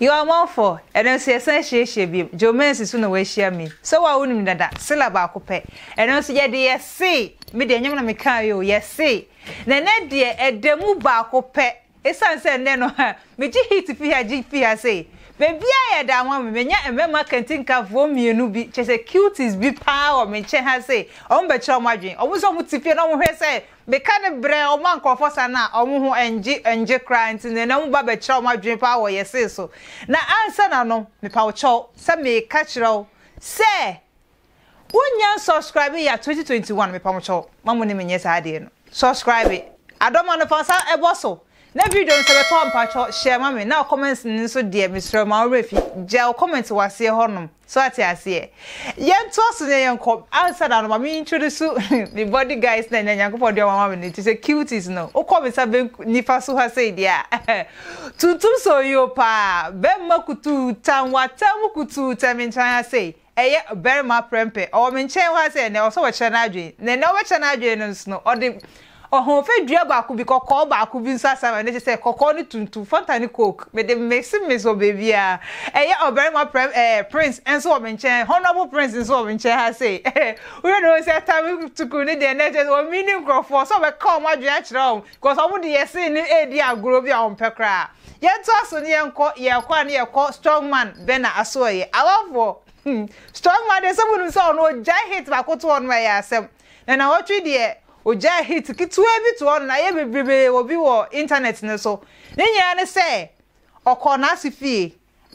You are more for ɛno nso yɛsan hyiahyia bi Jomansi so na wahyia me sɛ wo a wonim dada sela baako pɛ ɛno nso yɛde yɛse me deɛ ɛnyɛm na mekaa yɛ o yɛse na ɛnɛ deɛ ɛda mu baako pɛ Esiane sɛ nnɛ no migye heat fi ha gye fi ha sɛ baabiara yɛ da ama me, manya mmarima kantinkafoɔ mmienu bi, kyerɛ sɛ cuties bi pa ara wɔ me nkyɛn ha sɛ wɔbɛkyerɛ wɔn adwene. Wɔn nso wɔte fie na wɔhwɛ sɛ meka ne brɛ wɔn a nkurɔfoɔ sa no a, wɔn ho nnye nnye koraa nti no na wɔba bɛkyerɛ wɔn adwene pa ara wɔ yɛn se so. Na ansa na no, mepa wo kyɛw sɛ meka kyerɛ wo sɛ Wo nnya nsubscribe ya 2021 me pa mo kyɛw ma mo ne me nyɛ saa adeɛ no subscribe adɔ ma no fa nsa bɔ so na video no sɛ bɛ tɔ a mpa kyɛw share ma me na wo comments no nso deɛ me srɛ wo ma wo werɛ fi gya wo comments wɔ aseɛ hɔ nom so ate aseɛ yɛ ntoa so na yɛ nkɔ ansa na no ma me introduce me body guys na nya nyankopɔn deɛ ɔma ma me no ti sɛ cuties no wo kɔ me nsa bɛ nifa so ha sɛ deɛ a tuntum so yo paa bɛ ma kutuu tan wa tan mu kutuu tan me nkyɛn ha sɛ Ɛyɛ ɔbarima prɛmpɛ. Ɔwɔ me nkyɛn hɔ ara sɛ ɛnnɛ, ɔsɛ ɔkyerɛ n'adwene. Na ɛnnɛ ɔbɛkyerɛ n'adwene no nso no, ɔde ɔhoɔfɛ dua baako bi, kɔkɔɔ baako bi nso asan ma me. Ɛno kyerɛ sɛ, kɔkɔɔ ne tuntum, Fanta ne Coke, mede mixe mixe wɔ baabiara. Ɛyɛ ɔbarima prɛm eh, Prince nso wɔ me nkyɛn, Honourable Prince nso wɔ me nkyɛn ha sei. Wohwɛ na wohu sɛ Tame Tukur no deɛ, na ɛkyerɛ sɛ ɔmmii ne nkurɔfoɔ, ɔsɛ ɔbɛka wɔn adwene akyerɛ wɔn, because wɔn de yɛ see no redi agorɔ bi a wɔmpɛ koraa. Yɛntoa so ne yɛnkɔ yɛkɔ a ne yɛkɔ strong man Bernard Asoɔye. Awafoɔ hmm strong man deɛ sɛ monim sɛ ɔno ɔgyae hit baako to hɔ nom a ɛyɛ asɛm. Na nawɔtwe deɛ ɔgyae hit ketewa bi to hɔ nom na ayɛ bebrebee wɔ bi wɔ internet no so. Ne nyinaa ne sɛ ɔkɔɔ n'ase fie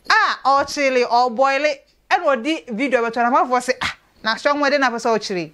a ɔrekyele ɔreboile ɛna ɔde video abɛto hɔ na amanfoɔ se ah na strong man deɛ na apɛ sɛ ɔkyele yi.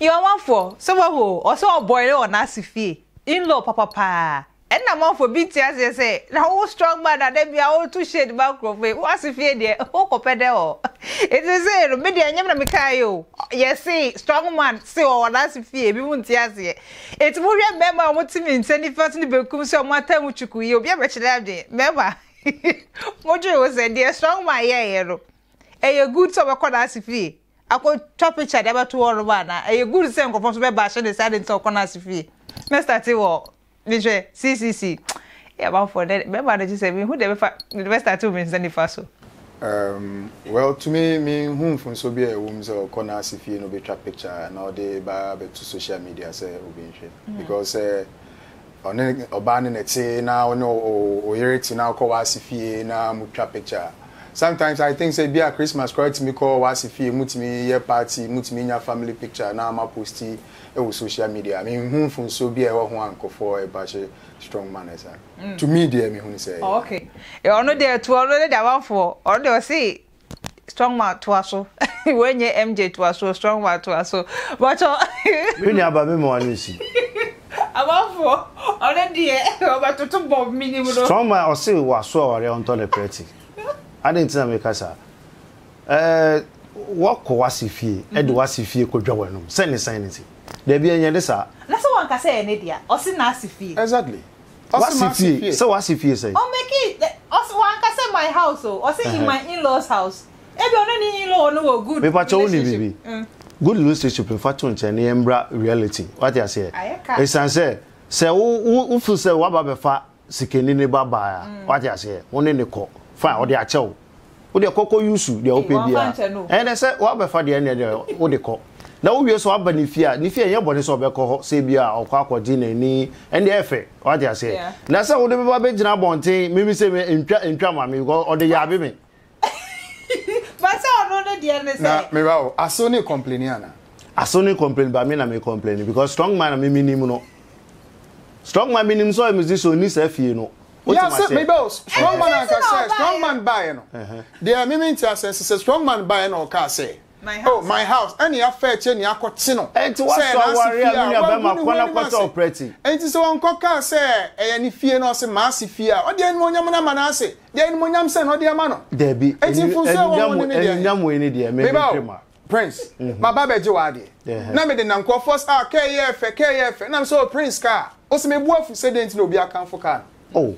yɛwamanfoɔ sɛ wahu ɔsɛ ɔbɔre wɔ n'ase fie inlaw papa paa ɛna amanfoɔ bi nti aseɛ sɛ na wo strong man na da bia woto shade ma nkurɔfoɔ yi wase fie deɛ wokɔpɛ dɛ hɔ ɛti sɛ no me deɛ ɛnyɛm na mekaa yi o yɛse strong man se wɔ wɔ n'ase fie bi mu nti aseɛ Enti mohwɛ mmarima a wɔte me nsa nifa so ne benkum so a wɔataa mu kyukuu yi, obi abɛkyerɛ adwene? Mmarima, modwene ho sɛ, deɛ strong man yɛeɛ no, ɛyɛ good sɛ ɔbɛkɔ n'ase fie akɔtwa picture de abɛto hɔnom anaa? Ɛyɛ good sɛ nkurɔfoɔ nso bɛbaahye ne sɛ adɛn nti sɛ ɔkɔ n'ase fie? Mɛstate wɔ, mehwɛ, CCC. Yɛ amanfoɔ dɛ bɛma no gyesɛ menhu deɛ bɛfa mede bɛ starte wo me nsa nifa so. Umm well to me me nhu mfomsoɔ biaa ɛwɔ mu sɛ ɔkɔ nurse fie na ɔbɛtwa picture na ɔde ba abɛto social media sɛ obi nhwɛ because sɛ ɔne ɔbaa no na ɛte na ɔne ɔyere te na ɔkɔ w'ase fie na mo twa picture a sometimes I think sɛ biaa Christmas koraa tumi kɔ w'ase fie mo tumi yɛ party mo tumi nya family picture na mo aposti ɛwɔ social media me nhu mfomsoɔ biaa ɛwɔ ho a nkorɔfoɔ ɛba hye strong man ẹ saa mm. to me deɛ mehu no sɛ oh, okay ɔno deɛ to ɔno ne damanfoɔ ɔno deɛ ɔse strong man toa so wɔnyɛ mj toa so strong man toa so bɔtɔ me nuaba me ma wano nsi amanfoɔ ɔno deɛ ɔbɛtoto bɔ menim no strong man ɔse waso aware ɔntɔ ne prɛte adɛn nti na meka saa Ɛɛ, wɔkɔ w'ase fie de w'ase fie kɔdwa w'anom sɛ ne sɛn ne se. Dabi, ɛnyɛ ne saa. Na sɛ wanka sɛ ɛyɛ ne dea? Ɔse n'ase fie. Exactly. Ɔse m'ase fie. Sɛ w'ase fie sɛn? Ɔ mekii, ɔse, wanka sɛ my house o, ɔse in my in-laws house. Ebia ɔne ne in-law no wɔ good relationship. Mepakyɛ wo nim biribi? Good relationship no fa to nkyɛn na yɛmmra reality. Wate aseɛ? Ayɛ ka. Ɛsiane sɛ, sɛ wo, wo, wo feel sɛ w'aba bɛfa sikani ne ba baa a, mm. wate aseɛ wo ne ne kɔ fine ɔde akyɛ wo wode kɔ kɔ yusu deɛ wopɛ biara ɛyɛ dɛ sɛ woabɛfa deɛ ɛneɛ deɛ wode kɔ na wowie so aba ne fie a ne fie ɛnyɛ bɔne sɛ ɔbɛkɔ hɔ sɛ bi a ɔkɔ akɔgye n'ani ɛndeɛ ɛfɛ wate aseɛ na sɛ wode bɛba bɛgyina abɔnten mimi sɛ ntwa ntwa ma me ɔde yaabe me Basa ɔno ne deɛ ne sɛ. Na meba o, aso ne complaini ana? Aso ne complaini ba me na me complaini because strong man na me menim no. Strong man menim sɛ ɔyɛ me zi so ɔnni saa fie no. Yeah, sɛ meba o, strong man anka sɛ strong man baeɛ no. Deɛ me mente aseɛ sɛ sɛ strong man baeɛ na ɔkaa sɛ. Oh, my house, ɛne afɛ kyɛ nea akɔte no Enti sɛ ɛyɛ woasɔ aware a, n'asefie me a, nua wagu bɛrima ne ho kɔ na anim kɔtɔ ase. prɛte. Enti sɛ ɔnkɔ kaa sɛ ɛyɛ ne fie na ɔse m'asefie a, ɔde animuonyam no ama n'ase? Deɛ animuonyam sɛn na ɔde ama no? Dabi, Enti ani, mfomsoɔ a ɛwɔ ho no animuonyam, ne deɛ he? animuonyam wei ne deɛ, me, Me ba o, mentwe ma. Prince, Mhm. maba abɛgye w'adeɛ. Ɛhɛ. Na mede nam nkurɔfoɔ sɛ, ah, kaa yi yɛ fɛ, kaa yi yɛ fɛ. Ɛna mese, oh, Prince, kaa. Ose, mebu afu, sɛ deɛ nti na obi akamfo kaa no? Oh,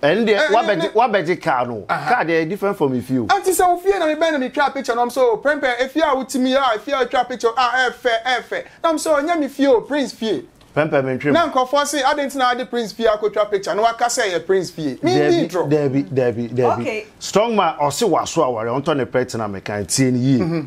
ɛnde eh, wabɛgye wabɛgye car no. Car deɛ different from efie o. Ɛnti sɛ ofie na mebɛn na metwa picture na ɔmo o prɛmpɛ efie a wotim yi a efie a otwa picture a ɛɛfɛ ɛɛfɛ na ɔmo sɛ ɔnyɛ me fie o prince fie. Prɛmpɛ mentwem. Na nkorɔfoɔ se adɛn ti na ade prince fie akotwa picture na waka sɛ ɛyɛ prince fie. Mi ni drɔ. Dabi dabi dabi. Okay. Strong man ɔse waso aware ɔntɔ ne pɛ tena mekan tie ne yie. Mm -hmm.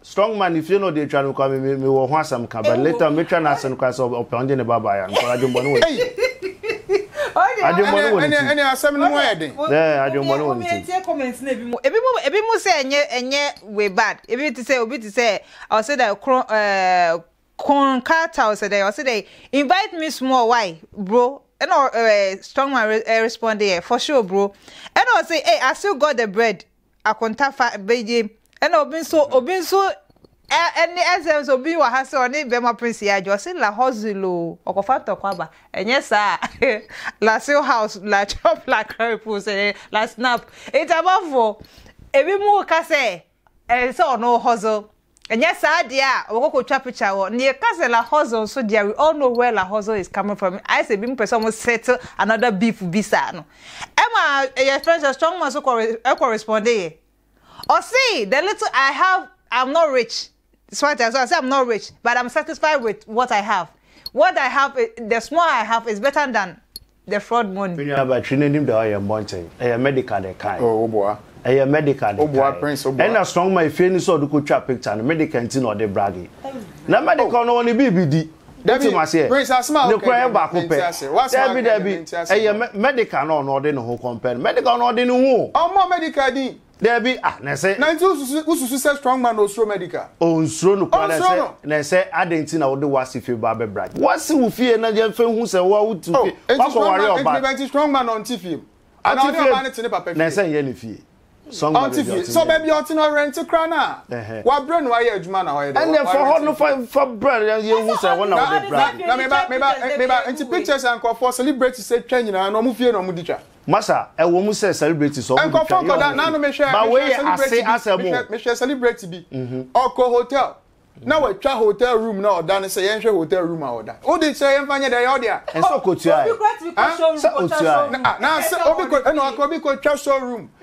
Strong man ne fie na ɔde atwa no kwa me me wɔ ho asɛm ka but later me twa n'asen koraa sɛ ɔpɛ ɔngye ne ba baeɛ a nokware adwemmɔne wɔ ne fie. Adwemmɔne wɔ ne ti. Ɛne asɛm no mu ayɛ den. Ɛɛ adwemmɔne wɔ ne ti. Obi ntie comments no ebimu ebimu ebimu sɛ ɛnyɛ ɛnyɛ wei bad ebi te sɛ obi te sɛ ɔse dɛ kron ɛɛ kon carter ɔsɛ dɛ ɔse dɛ invite me small why bro ɛna ɛɛ strong man ɛɛ respond yɛ for sure bro ɛna ɔse ee I still got the bread akontafa bɛyɛ ɛna obi nso mm. obi nso ɛne ɛsɛ nso obi wɔ ha sɛ ɔne bɛma prince yɛ adwo ɔse la hosel o ɔkɔfa ntɔkwa aba ɛnyɛ saa la seal house la chop la carry pool sɛ la snap nti abɔfoɔ ebi mu ka sɛ ɛsɛ ɔno hosel Ɛnyɛ saa deɛ a, wɔkɔ kɔtwa picture wɔ, na yɛka sɛ La Hozzo nso deɛ a, we all know where La Hozzo is coming from. Ayɛ sɛ binom pɛ sɛ wɔn settle another beef bi saa no. Ɛma yɛfrɛ no sɛ Strongman nso kɔ re, kɔ responde yɛ. Ɔse, the little I have, I'm not rich. So ate aseɛ, ɔse I'm not rich, but I'm satisfied with what I have. What I have, the small I have is better than The fraud money. Me nua batri no anim da hɔ a yɛnbɔ nkyɛn ɛyɛ medical na ɛkae. Oh woboa. Ɛyɛ medical na ɛkae. Woboa prince woboa. Ɛna strong ma efie no sɛ ɔde kɔ twa picture no medical nti na ɔde brage. Na medical no wɔ ne biribi di. Dabi prince asem a woka yi deɛ mente aseɛ. W'asem a woka yi deɛ mente aseɛ. Dabi dabi ɛyɛ medical na ɔno ɔde ne ho compare no. Medical no ɔde ne ho o. Ɔmmɔ medical din. Dabi, ah, na ɛsɛ. Na nti wo susu, wo susu sɛ strong man na osuro medical? Onsuro no koraa, na ɛsɛ. Onsuro no. Na ɛsɛ adɛn nti na wode w'ase fie ba abɛ bra? W'ase wo fie na yɛn fɛ hu sɛ wo a wo tu fie, oh, wakɔ ware ɔbaa. Enti nti strong man na ɔnte fie mu? Ana ɔne ɔbaa ne te ne papa fie? Na ɛsɛ nyɛ ne fie. Strong man baabi ɔte. So baabi ɔte no ɔrente koraa na, wabrɛ no ayɛ adwuma na ɔyɛ dɛ. Ɛnna ɛfɔ hɔ no fa fa brɛ na yɛn hu sɛ wɔn na wɔde bra. Na meba meba meba nti pictures a nkurɔfoɔ celebrities atwa nyinaa na wɔn fie na wɔn de twa. Masa, ɛwom sɛ celebrity sɛ ɔmo de twa yɛ ɔmo fi, but wei yɛ ase asɛm o. Mehwɛ celebrity bi, ɔkɔ hotel, na watwa hotel room no a ɔda no sɛ yɛnhwɛ hotel room a ɔda. Wo de sɛ yɛmfa nyɛ dɛ, ɛyɛ wo dea? Ɛnsɛ ɔkɔtua ɛ? Sɛ ɔtua ɛ? Ɛna ɔka obi kɔtwa show room.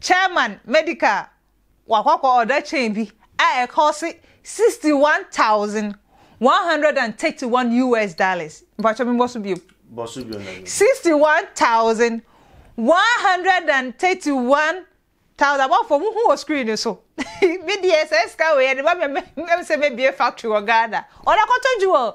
Chairman Medical wakɔkɔ ɔda chain bi a ɛkɔɔse sixty one thousand one hundred and thirty one US dollars. Mpakyɛ me bɔ so biom. Bɔ so biom na biom. Sixty one thousand one hundred and thirty one thousand abɔfo mo hu wɔ screen no so. Me deɛ sɛ sika wei ɛde ba me ɛm sɛ me bie factory wɔ Ghana. Ɔda kɔtɔ dwuma o.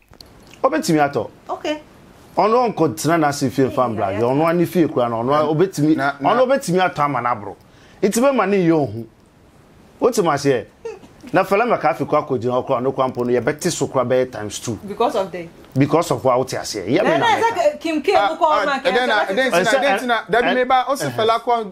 Obetumi atɔ. Okay. Ɔno ɔnkɔ tena n'ase fie nfa mbra hwɛ ɔno ne fie kura no ɔno obetumi ɔno obetumi atɔ ama n'aboro nti bɛma ne yɛ ohu wote ma seɛ na fɛlɛ mɛka afi kɔ akɔ gyina ɔkora ɔno kora mpo no yɛbɛte so kora bɛyɛ times two because of the because of wa wote aseɛ yɛ mi na mɛka. Kim K mu kɔ ɔma kɛntɛ bɛtete so. ɛsɛ ɛntina dabi mi ba ɔsi fɛlɛ akɔ.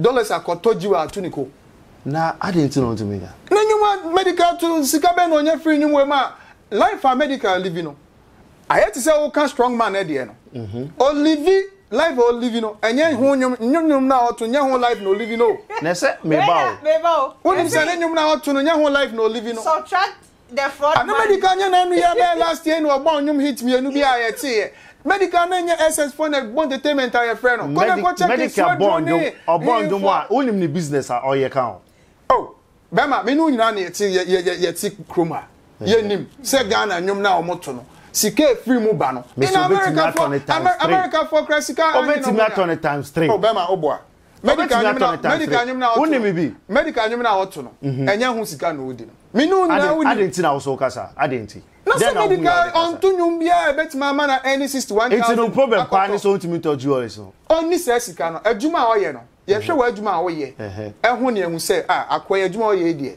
dollars akɔtɔ jiw a ato ne ko. Na adɛn nti na ɔntumi nya? Ne nnwuma medical to sika bɛn na ɔnya firi nnwuma yi mu a life a medical livi no ayɛ te sɛ woka strong man no deɛ no. Olivi life a ɔlivi no ɛnyɛ ho nnwom nnwom nnwom no a ɔto nyɛ ho life na ɔlivi no o. Na ɛsɛ meba o. Wonim sɛ ne nnwom no a ɔto no nyɛ ho life na ɔlivi no. Na Medical nyɛ n'anoyɛ bɛɛ last year na ɔbɔɔ nnwom hit mmienu bi a yɛteeɛ. Medical na ɛnyɛ SS foɔ na ɛbɔ entertainment a yɛfrɛ no. Kɔ na kɔ check Nsuo Aduro ne Hehe foɔ. Wonim ne business a ɔyɛ ka ho? Oh, bɛma, me ne wo nyinaa na yɛte, yɛ, yɛ, yɛ, yɛte kurom ha. Yɛnim sɛ Ghana nnwom no a wɔto no, sika a ɛfiri mu ba no. Mese obetumi atɔ no times three. Americafoɔ koraa sika ahe na wɔnya? Obetumi atɔ no times three. Oh, bɛma, woboa. medical nwom na medical nwom na ɔto no medical nwom na ɔto no ɛnyɛ ho sika na odi no mene wo nyinaa woni ade nti na wo so kasa ade nti na sɛ medical ɔnto nwom biara ɛbɛtumi ama na ɛne 61 nti no problem paa ne sɛ ɔntumi ntɔ jewelries no ɔnni sɛ sika no adwuma a ɔyɛ no yɛhwɛ wɔ adwuma a woyɛ ɛho ne ɛhu sɛ a akoa yɛ adwuma ɔyɛ deɛ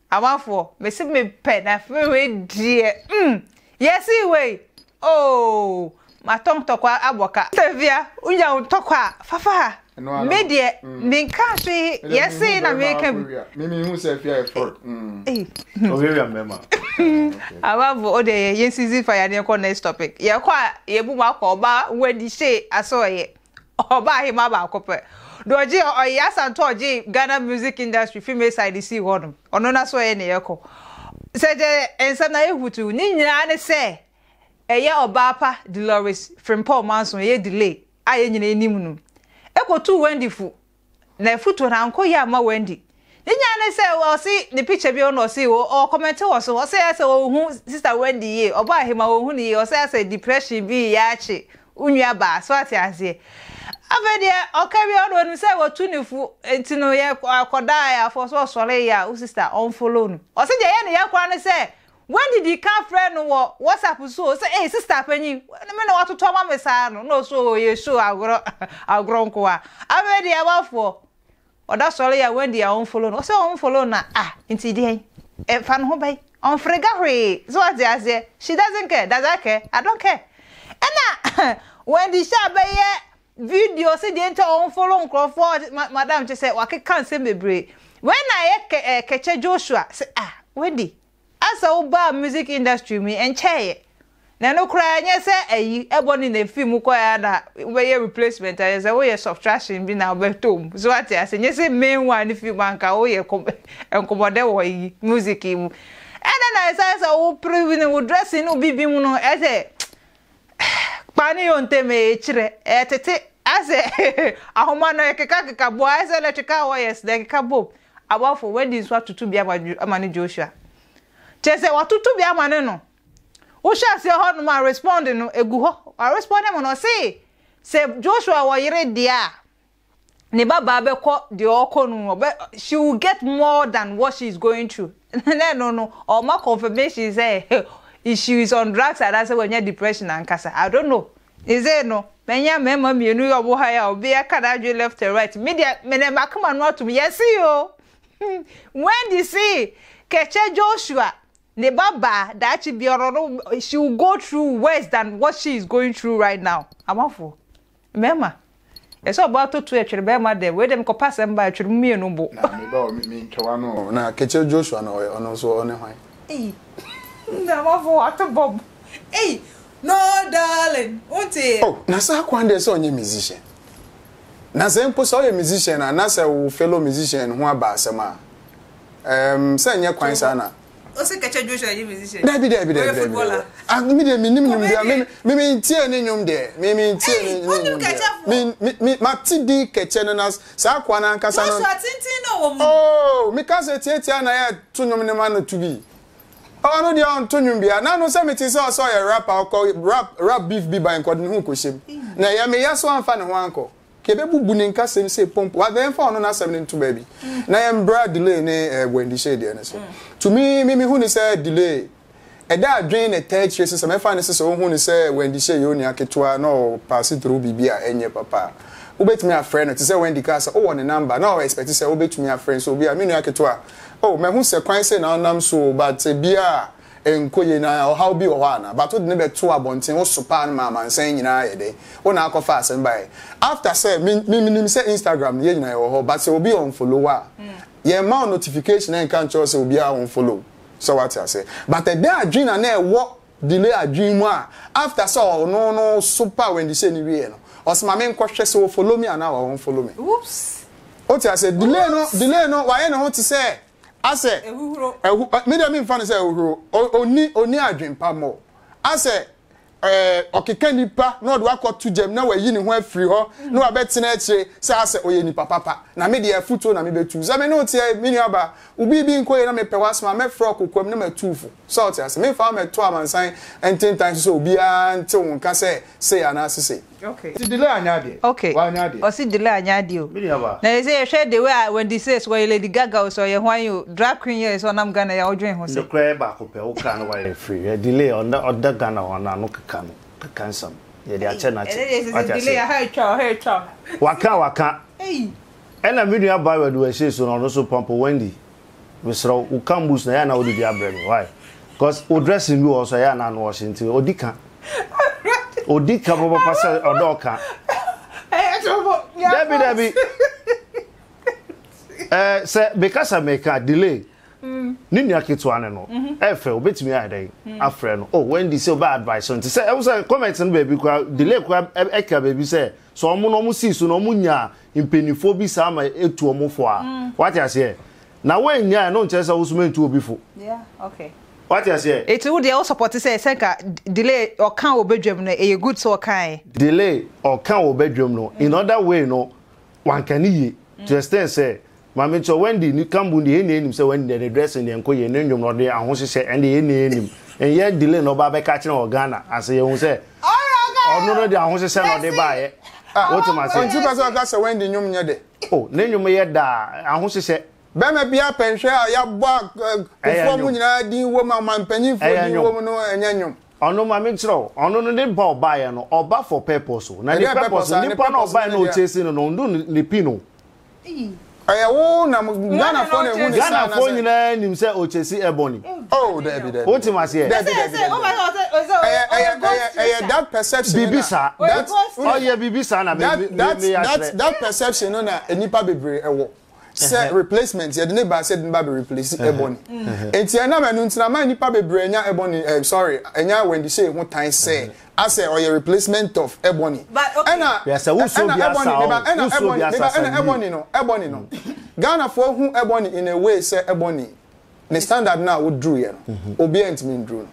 Amanfoɔ mese me pɛ na afei wei deɛ mm yɛsee wei ooh matɔ ntɔkwa abɔ ka. Savia wonya wo ntɔkwa a fa fa ha me deɛ me nka hwee yɛsee na meka bi. Me me hu sɛ afia yɛ fɔr mm. Ɔhwɛwia mmɛma ok. Amanfoɔ wo deɛ yɛn season fa yɛn adeɛ nkɔ next topic yɛkɔ a yɛbu mu akɔ ɔbaa wadi hyee asɔɔyɛ. Ɔbaa hemaa baako pɛ na ɔgyee ɔyɛ Asantɔ a ɔgyee Ghana music industry fi Mayside de sii hɔ no. Ɔno na so ɔyɛ nea ɛkɔ. Sɛ gyɛ nsa na yɛ hutuw. Ne nyinaa ne sɛ ɛyɛ ɔbaa pa Delores Frimpong Manson, ɛyɛ delay a yɛn nyinaa nim no. Ɛkɔtuu Wendy fo n'afutuo no ankɔ yie amma Wendy. Ne nyinaa ne sɛ ɔse ne picture bi ɔno ɔse ɔɔ comment wɔ so ɔse ayɛ sɛ ɔnhu sister Wendy yie ɔbɔ ahema ɔnhu no yie ɔse ayɛ sɛ depression bi reyɛ akye wo nua baa so ate aseɛ afei deɛ ɔka wie ɔno ɔnim sɛ watu ne fo nti no yɛ akɔda ayaafoɔ so ɔsɔre yɛ a wo sister ɔnfollow no ɔse deɛ ɛyɛ ne ya koraa ne sɛ Wendy dii kan frɛɛ no wɔ WhatsApp so o, sɛ ei sista panyin, me na woatoto ama me saa no, na ɔse oo ɛyɛ show agorɔ, agorɔ nkoa. Afei deɛ abafoɔ, ɔda sɔre a Wendy a ɔnfollow no, ɔse ɔnfollow no a, ah, nti deɛn? Ɛfa ne ho bɛn? Ɔnfrega hwee, so wate aseɛ, she doesn't care, does I care? I don't care. Ɛna Wendy hyɛ a bɛyɛ video se deɛ nti a ɔnfollow nkorɔfoɔ, ma, madam kyɛ sɛ wakeka nsɛm bebree. Wei na ɛyɛ kɛ, ɛɛ, kɛkyɛ Joshua, se ah, Wendy, Asa wo baa music industry mu yi ɛnkyɛeɛ na ɛno koraa ɛnyɛ sɛ ayi ɛbɔ no na ɛfiri mu kɔeɛ a na wobɛyɛ replacement ayɛ sɛ woyɛ subtraction bi na wobɛtɔ mu so wate ase ɛnyɛ sɛ main one no firi mu anka woyɛ nkɔmmɔdɛ wɔ yi music yi mu ɛna na ɛsɛ sɛ wo pere ne wo dressing ne obi bi mu no ɛsɛ kpa ne yɔ ntɛm ɛkyerɛ ɛtete asɛ ahoma no ɛkeka keka bɔ ɛsɛ electrical wires na ɛkeka bom Abɔfo, Wadi nso atutu bea ama ama ne Joshua. Kyerɛ sɛ watutu bea ama ne no. Wohyɛ aseɛ hɔ nom a respond no egu hɔ. Wa respond mu no ɔse sɛ Joshua wɔ yere deɛ a ne ba baa bɛkɔ deɛ ɔɔkɔ no ɔbɛ she will get more than what she is going through. Na ɛno no ɔma confirmation sɛ she is on drugs anaasɛ wanya depression ankasa. I don't know. Sesei no, manya mmarima mmienu yɛ ɔmo high a obiara ka n'adwene left and right. Me deɛ, me de m'akoma no atom, yɛse o! Wendy se, Kɛkyɛ Joshua, ne ba baa, daakye biara no, she will go through worse than what she is going through right now. Amafoɔ, mmarima, Ɛsɛ ɔbaa to to ɛtwere bɛɛma dɛ wei dɛ mekɔ pa asɛm baa ɛtwere mo mienu bo. Na me ba o me me ntwa w'ano o. Na Kekyir Joshua no ɔyɛ ɔno nso ɔne hwan? Ei! Na w'afo w'ato bɔb ei! No darling wo nte yɛ. Oh na saa kwan deɛ sɛ ɔnyɛ musician na sɛ mpo sɛ ɔyɛ musician a na sɛ wo fellow musician ho aba asɛm a ɛɛm sɛ nyɛ kwan saa na. Ose kɛkyɛ Joshua nye musician. Dabi dabi dabi dabi dabi. Ah me de me nim nim dia me me me ntie ne nyom de. Me me ntie ne ne nyom de. Me me me ma ti di kɛkyɛ no na saa kwa na ankasa no. Joshua tintin no wo mu. Oh me ka se tie tie na ye to nyom ne ma no to bi. Oh no dia on to nyom bia. Na no se me ti se ɔsɛ ɔyɛ rapper ɔkɔ rap rap beef bi ban kɔ de ne ho kɔ hyem. Na ye me ya so anfa ne ho ankɔ. Yɛbɛbubu ne nkasɛm sei pompo a, na yɛmfa ɔno n'asɛm no nto baabi, na yɛmbra delay ne bɔndihyɛ deɛ no so. To me, me mehu no sɛ delay, ɛda adwene na ɛtaa akyire so, sɛ mɛfa no sɛ sɛ wohu no sɛ Wendyhyɛ yɛ onua ketewa na ɔ pass through biribi a ɛnyɛ papa a, wobɛtumi afrɛ no, te sɛ Wendy kaa sɛ wowɔ ne number na ɔ expect sɛ wobɛtumi afrɛ no, so obi a, me nua ketewa, oh, mahu sɛ kwan sei na wonam so o, but ɛbia a, Ɛnkɔ yie na ɔhaw bi wɔ hɔ anaa? But wode no bɛtoo abɔnten, wo sopaa no ma amansan nyinaa ayɛ dɛ. Wo na akɔfa asɛm baeɛ. After sɛ, me me menim sɛ Instagram no yɛn nyinaa yɛwɔ hɔ but sɛ obi unfollow wo a, yɛmma wo notification ɛnka nkyerɛ wo sɛ obiara unfollow wo. Sɛ woate aseɛ? But ɛdɛn adwene na na ɛwɔ Delay adwene mu a after sɛ ɔno no sopaa Wendy Shay no wieeɛ no, ɔse ma menkɔhwɛ sɛ ɔfollow me anaa wa unfollow me. Oops! Wote aseɛ? Delay no Oops! delay no wayɛ ne ho te sɛ asɛ ɛhuhuro ɛhu mi deɛ mi nfa no sɛ ɛhuhuro oni oni adwempa mɔ asɛ ɛɛ ɔkeka nipa na ɔde wakɔ to gyam na wayi ne ho afiri hɔ na wabɛtena akyire sɛ asɛ ɔyɛ nipa papa na mi deɛ afutuo na mi bɛ tu sɛ mi ne o teɛ mi nua ba obi bi nkɔ yɛ na mi pɛ wasɛm a mɛfrɛ ɔkokoam na ma tu fo sɛ ɔte ase mi nfa mɛto amansan ntentan so sɛ obiara nte wɔn nka sɛ sei anaasɛ sei. Okay. Ti Delay anyɛ adeɛ. Okay. Wanyɛ adeɛ. Ɔsi Delay anyɛ adeɛ o. Me nua ba. Na sɛ yɛhwɛ the way a Wendy says wɔyɛ Lady Gaga o sɛ ɔyɛ hwan o drag queen yɛ sɛ ɔnam Ghana yi a ɔdwen ho sɛ. Nokorɛ yɛ baako pɛ wokra no wayɛ free yɛ Delay ɔnda ɔda Ghana hɔ no ano keka no keka nsɛm yɛde akyɛ no akyɛ wate aseɛ. Delay aha atwa o aha atwa o. Waka waka. Ei. Ɛna me nua ba Awɛduwɛhyee so no ɔno nso pɔmpo Wendy Mesrɛ wo, wo cambus na ɛyɛ a na wode bi abrɛ me, why? Cos wo dressing bi wɔ hɔ nso a ɛyɛ a na ano ɔhye nti ɔdi ka. Ɔdi ka papapa sɛ ɔdɔ ɔka. Dabi dabi. Eh, sɛ meka sɛ meka delay. Mm. Ne nua ketewa ne no. Mhm. Ɛfɛ obetumi ayɛ dɛn? Mm. Afrɛ no. Oh, Wendy sɛ ɔbɛ advice nti sɛ ɛwɔ sɛ comment no baabi kwa delay kwa ɛka baabi sɛ Sɛ wɔn na wɔn sii so na wɔn nyaa mpaninfoɔ bi saa ma etu wɔn fo a, wate aseɛ? Na wɔn nyaɛ no nkyerɛ sɛ woso mentu obi fo. Wate aseɛ? Eti wo deɛ wo sɔpɔte sɛ sɛ nka delay ɔka wɔ badwam no ɛyɛ good sɛ ɔkaɛ? Delay ɔka wɔ badwam no in other way no wanka ne yie to the extent sɛ Maame nso Wendy ne Kambu deɛ yɛn nyinaa nim sɛ Wendy deɛ ne dressing deɛ nkɔ yie ne nnwom no ɔde ahohyehyɛ ɛnde yɛn nyinaa nim nyɛ delay na ɔba abɛka akyerɛ wɔ Ghana ase yɛhu sɛ ɔno no deɛ ahohyehyɛ na ɔde baeɛ ah, wotem ase ɔnti pɛ sɛ ɔka sɛ Wendy nnwom nyɛ dɛ oh ne nnwom yɛ daa ahohyehyɛ bɛrima bi apɛnhwɛ a yɛabɔ akofoɔ mu nyinaa din wɔ mu amanpanimfoɔ din wɔ mu no ɛnyɛ nnwom ɔno ma menkyerɛ wo ɔno no ne ba ɔbaeɛ no ɔba for purpose na ne purpose nipa na ɔbaeɛ no ɔkyɛsi no no ɔndo ne pi no Eii. Ɛyɛ wo na mo Ghanafoɔ na ehu ne saa na sɛ. Ghanafoɔ nyinaa nim sɛ Ochesi Ebony. Oh daabi daabi. Wote m'aseɛ? Daabi daabi daabi. Ɛyɛ ɛyɛ ɛyɛ ɛyɛ that perception no na. Biribi saa. That ɔyɛ biribi saa na me me me me yɛ akyerɛ. That that perception no na nnipa bebree ɛwɔ sɛ replacement yɛde ne baa sɛ yɛde ne ba bɛ replace Ebony. Nti ɛnam ɛno nti na ama nnipa bebree anya Ebony ɛɛ sorry anya Wendy Shay ho tan sɛ. Asɛ ɔyɛ replacement of Ebony. But okay. Ɛna Hwɛ sɛ wosɔ ɛna obi Ebony asa meba o, ɛna wosɔ obi Ebony asa meba ɛna sɛ yie. Ebony no Ebony no. Ghanafoɔ hu Ebony in a way sɛ Ebony ne standard no a woduruiɛ no obiara ntumi nduru no.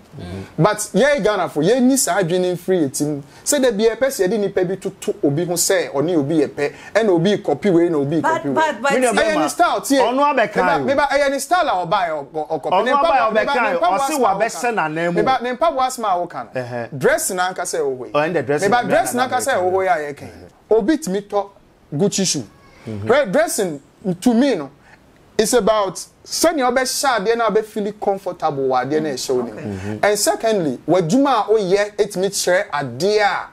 But yɛn Ghanafoɔ yɛnyi saa adwene no mfiri yɛn tirim sɛ da biara yɛpɛ sɛ yɛde nipa bi toto obi ho sɛ ɔne obi yɛ pɛ Ɛna obi rekɔpi wei na obi rekɔpi wei. But but but. Ɛyɛ ne style tie. Ɔno abɛka o. Meba ɛyɛ ne style a ɔba yɛ ɔkɔpi. Ɔno aba yɛ ɔbɛka o. Ɔsi wa bɛsɛ na nan mu. Meba ne mpaboa asem a woka no. Dress na ankasa ɛwɔ hɔ yi. Ɔyɛ ndɛ dress. Meba dress na ankasa ɛwɔ hɔ yi a yɛka yi. Obi tumi tɔ Gucci shoe. Hwɛ dressing to me no is about sɛnea ɔbɛhyɛ adeɛ na ɔbɛ feel comfortable wɔ adeɛ na ɛhyɛ wo ne mu. And secondly w'adwuma a woyɛ etumi kyerɛ adeɛ a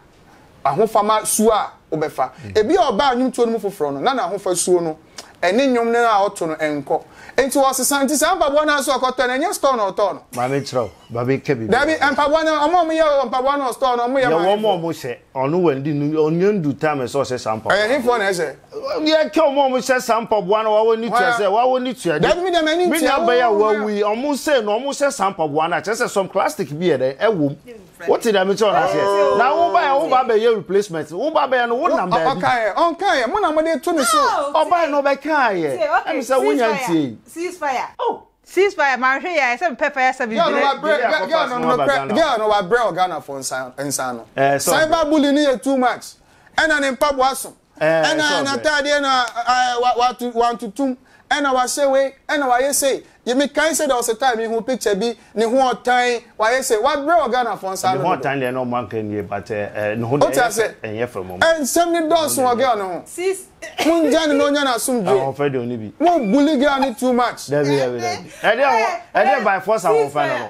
ahofama suo a wobɛfa. Ebia ɔbaa nnwomtoɔ no mu foforɔ no, na n'ahofasuo no ne nnwom no a ɔto no nkɔ. Enti ɔsesa. Enti saa mpaboa no ara nso a ɔkɔtɔ no, ɛnyɛ store na ɔtɔɔ no. Maame kyerɛ wo, ba bi ka biribi a ɔyɛ. Dabi, mpaboa no, wɔn a wɔyɛ wɔ mpaboa no wɔ store no, wɔyɛ maame foɔ. Yɛ wɔn a wɔhyɛ. Ɔno wandi no, ɔnnya ndu time sɛ ɔhyɛ saa mpaboa no. Ɛyɛ hefoɔ na ɛhyɛ? Yɛ ka wɔn a wɔhyɛ saa mpaboa no, wɔn ani tua sɛ, wɔn ani tua de. Dabi, me deɛ m'ani ntua. Me nuabaa yi a wawu yi, wɔn sei no, wɔhyɛ saa mpaboa no a, kyerɛ sɛ some plastic bi yɛ dɛn, ɛwɔ mu. Wote dɛm nti ɔno aseɛ. Na wo ba yɛ wo ba bɛyɛ replacement. Wo ba bɛyɛ no wo nam baabi. Ɔkaeɛ ɔnkaeɛ mo na mo de to ne so. Ɔbaeɛ no ɔbɛkaeɛ. Ɛmi sɛ wo nya ntie yi. Ceasefire. Oh. Ceasefire mahwɛ yi a ɛsɛ mepɛ fire service bi dɛ. Girl no nokorɛ girl no wabrɛ wɔ Ghana foɔ nsa nsa ano. Cyber bully no yɛ too much. Ɛna ne mpaboa so. Ɛna n'atadeɛ no wantotom, ɛna wahyɛ wei, ɛna wayɛ sei. Mekae sɛ there was a time mehu picture bi, ne ho ɔtan, wayɛ sei. Wabrɛ wɔ Ghanafoɔ nsa ano dodo. Ne ho ɔtan deɛ na wɔn anka nwie but ne ho deɛ ɛnyɛ fɛ mmom. Nsɛm no dɔɔso wɔ girl no ho. Mongya no na ɔnya n'asomdwoeɛ. Ahoɔfɛ deɛ ɔnni bi. Mo bully girl no too much. Dabi dabi dabi. Ɛdeɛ by force ahoɔfɛ no no.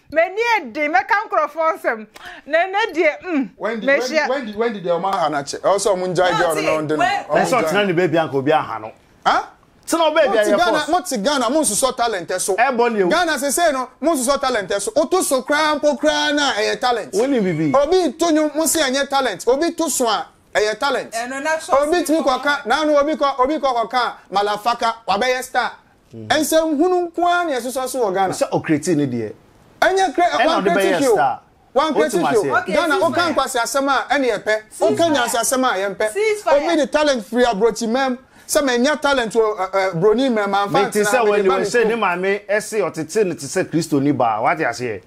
M'ani ɛden mɛka nkorɔfoɔ nsɛm na ɛnɛ deɛ mm mehyia. Wendy Wendy deɛ ɔmo aha no akyɛ ɛwɔ sɛ ɔmo ngyae gɛl no na ɔnde no ɔmo ngyae. Ɛsɛ ɔtena ne baabi anka obi aha no. Huh? Tena wo baabi ɛyɛ force. Mo te Ghana mo nsosɔ talent ɛso. Ɛbɔ ne awu. Ghana sesei no mo nsosɔ talent ɛso woto so koraa mpo koraa no a ɛyɛ talent. Wo nim bibi. Obi to nwom mo se ɛnyɛ talent obi to so a ɛyɛ talent. Ɛno na trust me paa. Obi tumi kɔ ka na ano obi kɔ obi kɔ kɔ ka a malafaka wabɛyɛ star Nsɛm hunu nko ara na ɛsosɔ so wɔ Ghana. Sɛ ɔcreatee ne deɛ. Ɛnyɛ cre Ɛna ɔde wancreate bɛyɛɛ hwee o. star. Wancreate Wote hwee o. m'aseɛ? Ghana Cease woka fire. nkwaseasɛm a ɛne yɛpɛ. Woka Ceasefire. nyansasɛm a yɛmpɛ. Cease fire. Obi de talent firi abrokyi mɛm sɛ manya talent wɔ ɛ ɛ broni mɛm amfa Mete antena sɛ mede wani ba wei me sɛ kurom. ne maame se ɔtetee no te sɛ Kristoni baa. Wate aseɛ?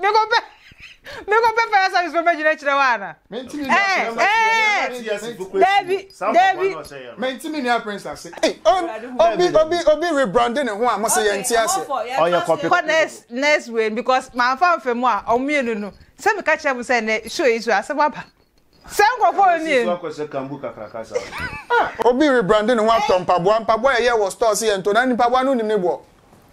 mekɔpɛ mekɔpɛ fire service fo mɛgyina kyerɛ wo ana dabi dabi mentimi nua prince ase obi obi obi rebrande ne ho a mo se yɛ nti ase ɔyɛ kɔpɛ kɔ next next way because mamfa mfa mu a ɔmo mmienu no sɛ meka kyerɛ mo sɛ ne show yi so asɛm aba Sɛ nkurɔfoɔ no nie. Obi rebrande ne ho atɔ mpaboa, mpaboa a yɛyɛ wɔ store se yɛntɔ na nipaboa no wonim ne boɔ?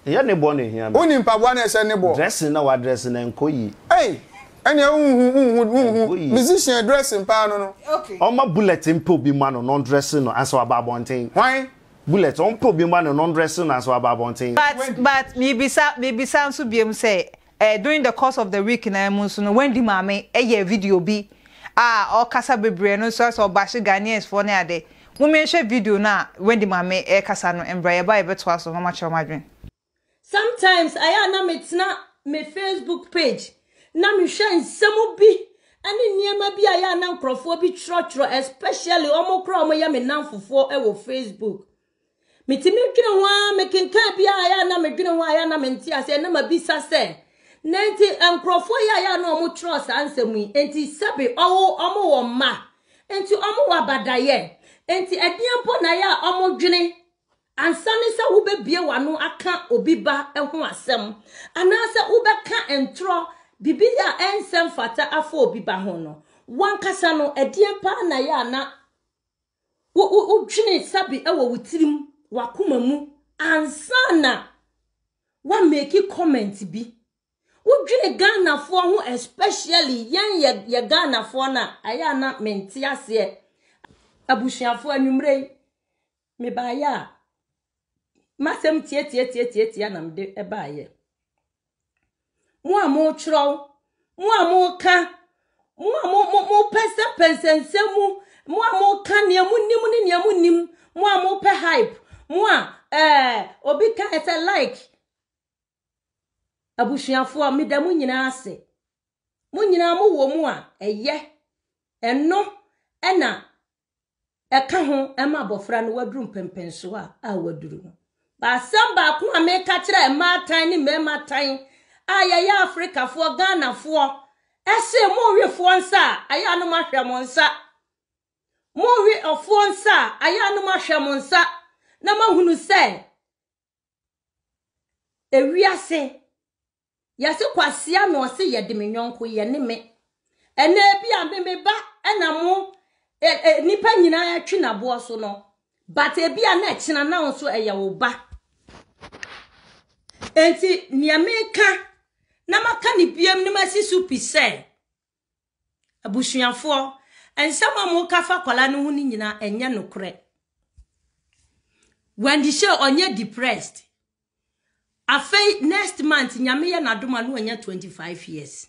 Ɛyɛ ne boɔ na ɛhia me. Wonim mpaboa no a ɛhyɛ ne boɔ? Dressing na wadress no ɛnkɔ yie. Ei! Ɛnneɛ wonhu, wonhu, wonhu. Musician dressing paa no no. Okay. Ɔmma Bullet mpɛ obi mma no na ɔndresse no ansa waba abɔnten. Hwan? Bullet, ɔmpɛ obi mma no na ɔndresse no ansa waba abɔnten. But, but, mebisa, mebisa nso biom sɛ, During the course of the week naa mu nso no Wendy maame yɛɛ video bi a ɔkasa bebree ɛno nso ayɛ sɛ ɔbahye Ghanaians foɔ ne ade. Momma yɛnhwɛ video no a Wendy maame ɛkasa no mbra yɛba a yɛbɛtoa so na ɔma kyerɛ mo adwene. Sometimes ayɛ a na me tena me Facebook page na me hwɛ nsɛm bi ɛne nneɛma bi a ayɛ a na nkorɔfoɔ bi twerɛtwerɛ especially wɔn koraa a wɔyɛ me nnamfofoɔ ɛwɔ Facebook. Metumi dwene ho ara, mekenkan bi a yɛ na medwene ho a yɛ na mente aseɛ na mabisa sɛ, na nti nkurɔfoɔ yɛ a yɛ na wɔn twerɛ saa nsɛm yi, nti sɛbe ɔwo wɔn wɔ mma, nti wɔn wɔ abadayɛ, nti ɛdeɛ mpo na yɛ a wɔn dwene ansa ne sɛ wobɛbie w'ano aka obi ba ho asɛm, anaasɛ wobɛka ntorɔ bibi yɛ a ɛnsɛm fata afa obi ba ho no, wankasa no ɛdeɛ paa na yɛ a na Wo, wo, wodwene sabi wɔ wo tirim, w'akoma mu, ansa na woameki comment bi. Wodwene Ghanafoɔ ho especially yɛn yɛ, yɛ Ghanafoɔ no a, ɛyɛ a na mente aseɛ. Abusuafoɔ anwummerɛ yi, mebaeɛ a, M'asɛm tiatiatiatiatia na mede ɛbaeɛ. Mo a motwerɛw, mo a moka, mo a mo mo mopɛnsɛmpɛnsɛ nsɛm mu, mo a moka nea monim ne nea monim, mo a mopɛ hype, mo a ɛɛ eh, obi ka ɛsɛ like. Abusuafoɔ, meda mo nyinaa ase. Mo nyinaa mo wɔ mu a, ɛyɛ. Ɛno na ɛka ho ma abɔfra no waduru mpɛmpɛnsoɔ a a waduru no. Baasɛm baako a meka kyerɛ mmaatan ne mmarimaatan a yɛyɛ Afrikafoɔ, Ghanafoɔ, ɛse monwefoɔ nsa a ayɛ anom ahwɛ mo nsa. Monwe ɔfoɔ nsa a ayɛ anom ahwɛ mo nsa na mahunu sɛ ewiase yɛse kwasea na ɔse yɛde me nyɔnko yɛ ne me ɛnna ebi a me me ba ɛna mo ɛ ɛ nipa nyinaa atwi n'aboɔ so no but ebi a na ɛkyina na nso ɛyɛ wo ba nti nea meka na maka ne biem ne masi so pi sɛ Abusuafoɔ, nsɛm a moka fa akwadaa no ho no nyinaa ɛnyɛ nokorɛ. Wendy Shay ɔnyɛ depressed. Afei next month nyame yɛ n'adom a na wanya 25 years.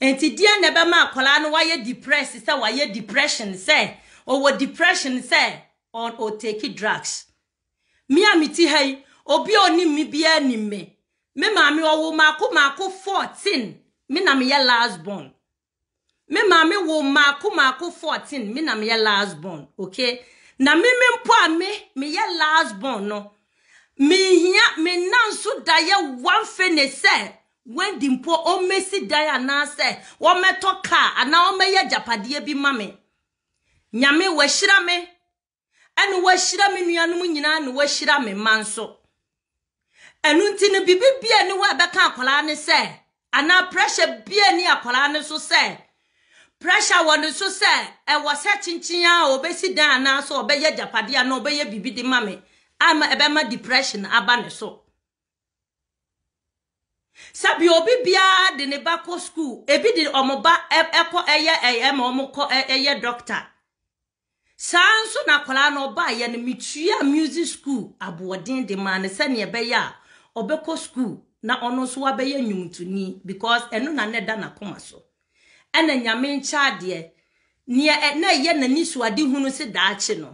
Nti deɛ na ɛbɛma akwadaa no wayɛ depressed sɛ wayɛ depression sɛ ɔwɔ depression sɛ ɔtake drugs. Me a mete ha yi, obi a onim me biara nim me. Me maame ɔwo maako maako 14, me na meyɛ last born. Me maame wo maako maako 14, me na meyɛ last born, okay? Na me me mpo a me meyɛ last born no, menhia me nna nso da yɛ one fene sɛ Wendy mpo ɔmmɛsi dan anaasɛ wɔmmɛtɔ kaa anaa wɔmmɛyɛ agyapadeɛ bi ma me. Nyame wahyira me ɛna wahyira me nuanom nyinaa na wahyira me mma nso ɛno nti no biribi bia ni hɔ a ɛbɛka akwadaa ne sɛ anaa pressure bia ni akwadaa ne so sɛ pressure wɔ ne so sɛ ɛwɔ sɛ kyenkyen a ɔbɛsi dan anaasɛ ɔbɛyɛ agyapadeɛ anaa ɔbɛyɛ biribi de ma me ama ɛbɛma depression aba ne so sɛbi obi biara de ne ba kɔ school ebi de wɔn ba ɛkɔ ɛyɛ ɛyɛ ma wɔn kɔ ɛyɛ doctor Saa ara nso na akwadaa no ɔbaeɛ no metuaa music school aboɔden de maa no sɛdeɛ ɛbɛyɛ a ɔbɛkɔ school na ɔno nso wabɛyɛ nnwomtoni because ɛno na na ɛda n'akoma so ɛna nyame nkyɛ adeɛ neɛ ɛ- na ɛyɛ n'ani so ade hunu se daakye no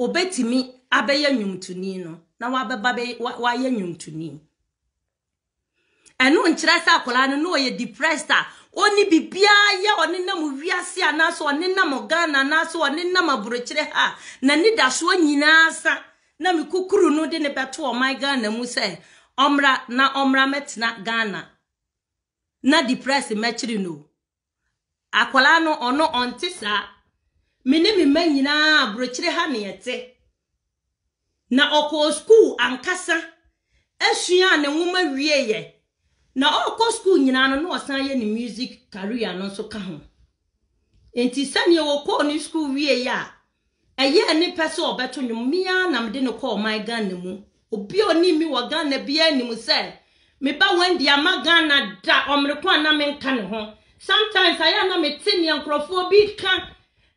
obɛtumi abɛyɛ nnwomtoni no na wabɛba bɛ- wa- wayɛ nnwomtoni Ɛno nkyerɛ sɛ akwadaa no na ɔyɛ depressed a ɔnni biribiara yɛ, ɔnenam wiase anaasɛ ɔnenam Ghana anaasɛ ɔnenam aburokyire ha a n'anidasoɔ nyinaa sa na me kukuru no de no bɛto ɔman Ghana mu sɛ ɔmmra na ɔmmra mmɛtena Ghana na depressed mmɛkyere no o. Akwadaa no, ɔno ɔnte saa. Me ne me mma nyinaa aburokyire ha na yɛte. Na ɔkɔɔ sukuu ankasa suaa ne nwoma wieeɛ. Na ɔrekɔ sukuu nyinaa no, na ɔsan yɛ ne music career no nso ka ho. Nti sɛdeɛ ɔkɔɔ ne sukuu wieeɛ a, Ɛyɛɛ ne pɛ sɛ ɔbɛto nnwom, me ara na mede no kɔɔ ɔman Ghana mu. Obi a onim me wɔ Ghana biara nim sɛ me ba Wendy amma Ghana da, ɔmere ko a na menka ne ho. Sometimes ayɛ a na mete nea nkurɔfoɔ bi reka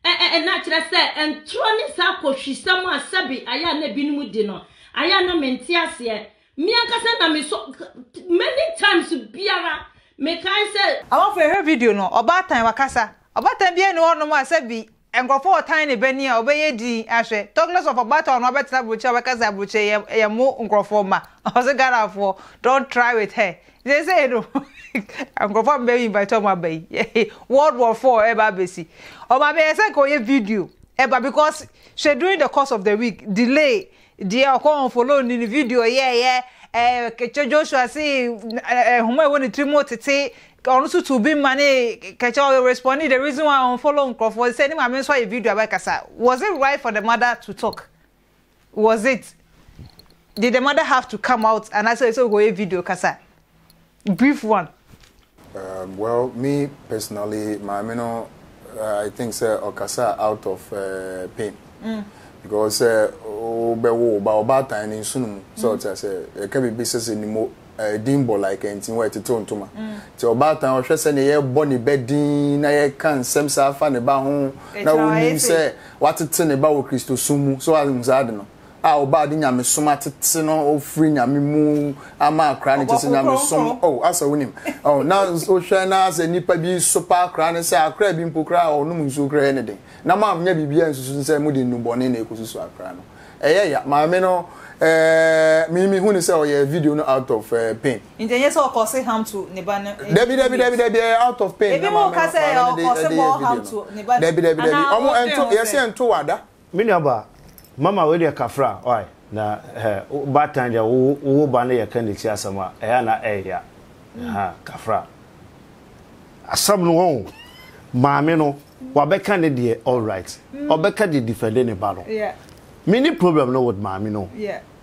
ɛ-ɛ-ɛ na kyerɛ sɛ ntorɔ ne saa kɔhwisɛm a sɛbe ayɛ a na ebinom di no, ayɛ a na mente aseɛ. Me ankasa na mesɔ many times biara mekae sɛ. Abɔfo yɛhwɛ video no, ɔbaatan wakasa. Ɔbaatan biara nni hɔnom a sɛbe Nkurɔfo a wɔtan ne bɛ ni a wɔbɛyɛ din ahwɛ. Talkless of Ɔbaatawa no abɛtena aburokyire a wɔbɛka sɛ aburokyire yɛ yɛ mo nkurɔfoɔ mma. Ɔse Ghanafoɔ don't try with her. Seesei no nkurɔfoɔ a mobɛ invite wɔn aba yi World War Four ɛreba abɛsi. Wɔn abɛyɛ sɛ nka wɔyɛ video ɛba because hwɛ during the course of the week delay Deɛ ɔkɔ unfollow no ne video yɛɛyɛ eh, Kɛkyɛ Joshua se eh, nhoma ɛwɔ ne tiri mu tete ɔno nso tu bi ma ne Kɛkyɛ ɔyɛ responde the reason why unfollow nkorɔfoɔ sɛ ne maame nso ayɛ video abɛkasa was it right for the mother to talk was it did the mother have to come out anaasɛ ɛsɛ ɔkɔyɛ video kasa Brief one. Um well me personally maame no uh, I think sɛ ɔkasa out of uh, pain. Mm. Because sɛ wobɛwo wo ba ɔbaatan ne nsono mu sɛ ɔte asɛ ɛka biribi sɛ sɛ nimo ɛdin bɔ like ɛnti wɔ ɛtetew ntoma nti ɔbaatan ɔhwɛ sɛ ne yɛbɔ ne bɛ din na yɛka nsɛm saa fa ne ba ho na wonim sɛ watete ne ba wɔ kristosom mu so ahum saa de no a ɔbaa de nyamesom atete no ɔfiri nyame mu ama akora ne kyɛ sɛ nyamesom oh, asɛ wonim oh, na wohwɛ na asɛ nnipa bi so pa akora ne sɛ akora bi mpo koraa a ɔnom nsuo koraa ne den na moanyɛ biribiara nsusu sɛ mode nnubɔne na ɛkɔsusu akora no ɛyɛ ya maame no ɛɛ me mehu ne sɛ ɔyɛ video no out of uh, pain nti ɛnyɛ sɛ ɔkɔ se ham to ne ba no dabi dabi dabi dabi ɛyɛ out of pain ebi mu ka sɛ ɔkɔ se bɔ ham to ne ba no dabi dabi dabi ɔmo ɛnto yɛsɛ ɛnto wada Me nuabaa, mama wei deɛ kafra wai na hɛ wobaatan deɛ wo wo wo ba no yɛ ka neti asɛm a ɛyɛ a na ɛyɛ ya ha kafra. Asɛm no wɔn maame no wabɛka ne deɛ alright ɔbɛka de defend ne ba no me ni problem no with maame no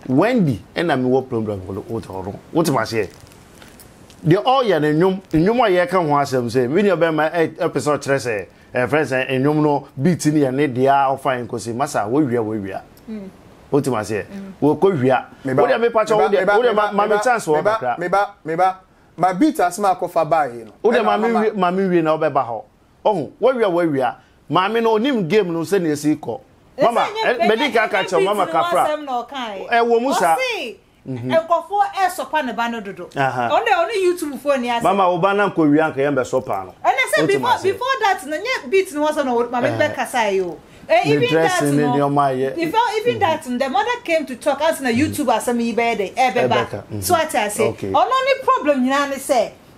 Wendy ɛna me wɔ problem with ɔno wote maseɛ deɛ ɔyɛ no nnwom nnwom a yɛka ho asɛm sɛ me nuabɛma ɛpɛ sɛ ɔkyerɛ sɛ Yɛfrɛ no sɛ nnwom no beat no yɛ ne dea ɔfa nkosi masa wowia wowia wote ma seɛ wɔkɔ wia wodeɛ mepa kyɛ wodeɛ wodeɛ ma me chance wɔ kakra meba meba ma beat asem akɔ fa baa yi no wodeɛ ma me wie ma me wie na wobɛba hɔ ɔho wowia wowia maame no onim game no sɛnea esi kɔ mama mɛdi kaka kyɛw mama kafra ɛwɔ mu saa Nkorɔfoɔ ɛɛsɔpa ne ba no dodo. Ɔno deɛ ɔne YouTube foɔ nni asɛm. Mama wo ba no ankɔ wie a anka yɛn bɛsɔpaa no. Ɛnɛ sɛ before before that no nyɛ beat no hɔ asɛm na maame no bɛkasaeɛ o. Eh, even that no, ne nneɛma a yɛ. Before even that no the mother came to talk ansa na YouTube asɛm yi bɛyɛ dɛn ɛɛbɛba. So ate aseɛ? Ɔno ne problem nyinaa ne sɛ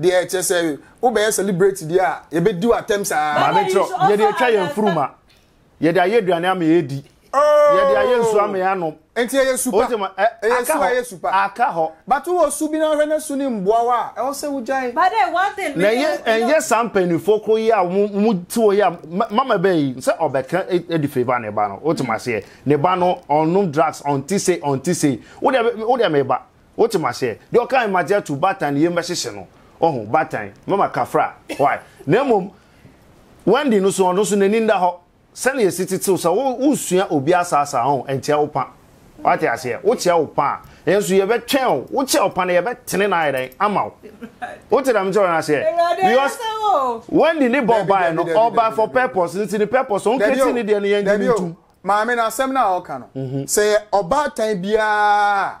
Deɛ kyerɛ sɛ wobɛyɛ celebrate deɛ a yɛbɛdi wo atɛm saa. Maame kyerɛ yɛde atwa yɛn furu ma yɛde ayɛ aduane ama yɛdi oh! yɛde ayɛ nsuo ama yɛanom. Nti ɛyɛ su pa ɛyɛ su ɛyɛ su pa aka hɔ. But wɔ su bi na ahwɛ na su ne mboa wa a ɛwɔ sɛ wogyae. But then one thing na ɛyɛ ɛnyɛ saa mpanyinfoɔ koro yi a wɔn ti wɔ yi a mama bɛn yi sɛ ɔbɛka ɛdi fɛ ba ne ba no wotum aseɛ ne ba no ɔnom drugs ɔnti se ɔnti se wodeɛ wodeɛ meba. Wote m'aseɛ? Deɛ ɔkae magye ato baatan ne yam bɛhyehye no. Wahu? Baatan, mɛma kafra. Why? Na mmom, Wendy no so, ɔno nso n'ani nda hɔ. Sɛdeɛ yɛsi tete wo sɛ wo, wonsua obi asaasaa, ɔho, ɛnkyea wo pa. Woate aseɛ? Wokyea wo pa a, yɛnso yɛbɛtwɛn wo. Wokyea wo pa no, yɛbɛtene no ayɛ dɛn? Ama wo. Wote deɛ mekyerɛ wo no aseɛ? Because, Wendy ne Bob baeɛ no, ɔbae for purpose, nti ne purpose, ɔn create ne deɛ no, yɛngye no ntom. Maame, no asɛm no a ɔka no, sɛ yɛ ɔbaatan biara a,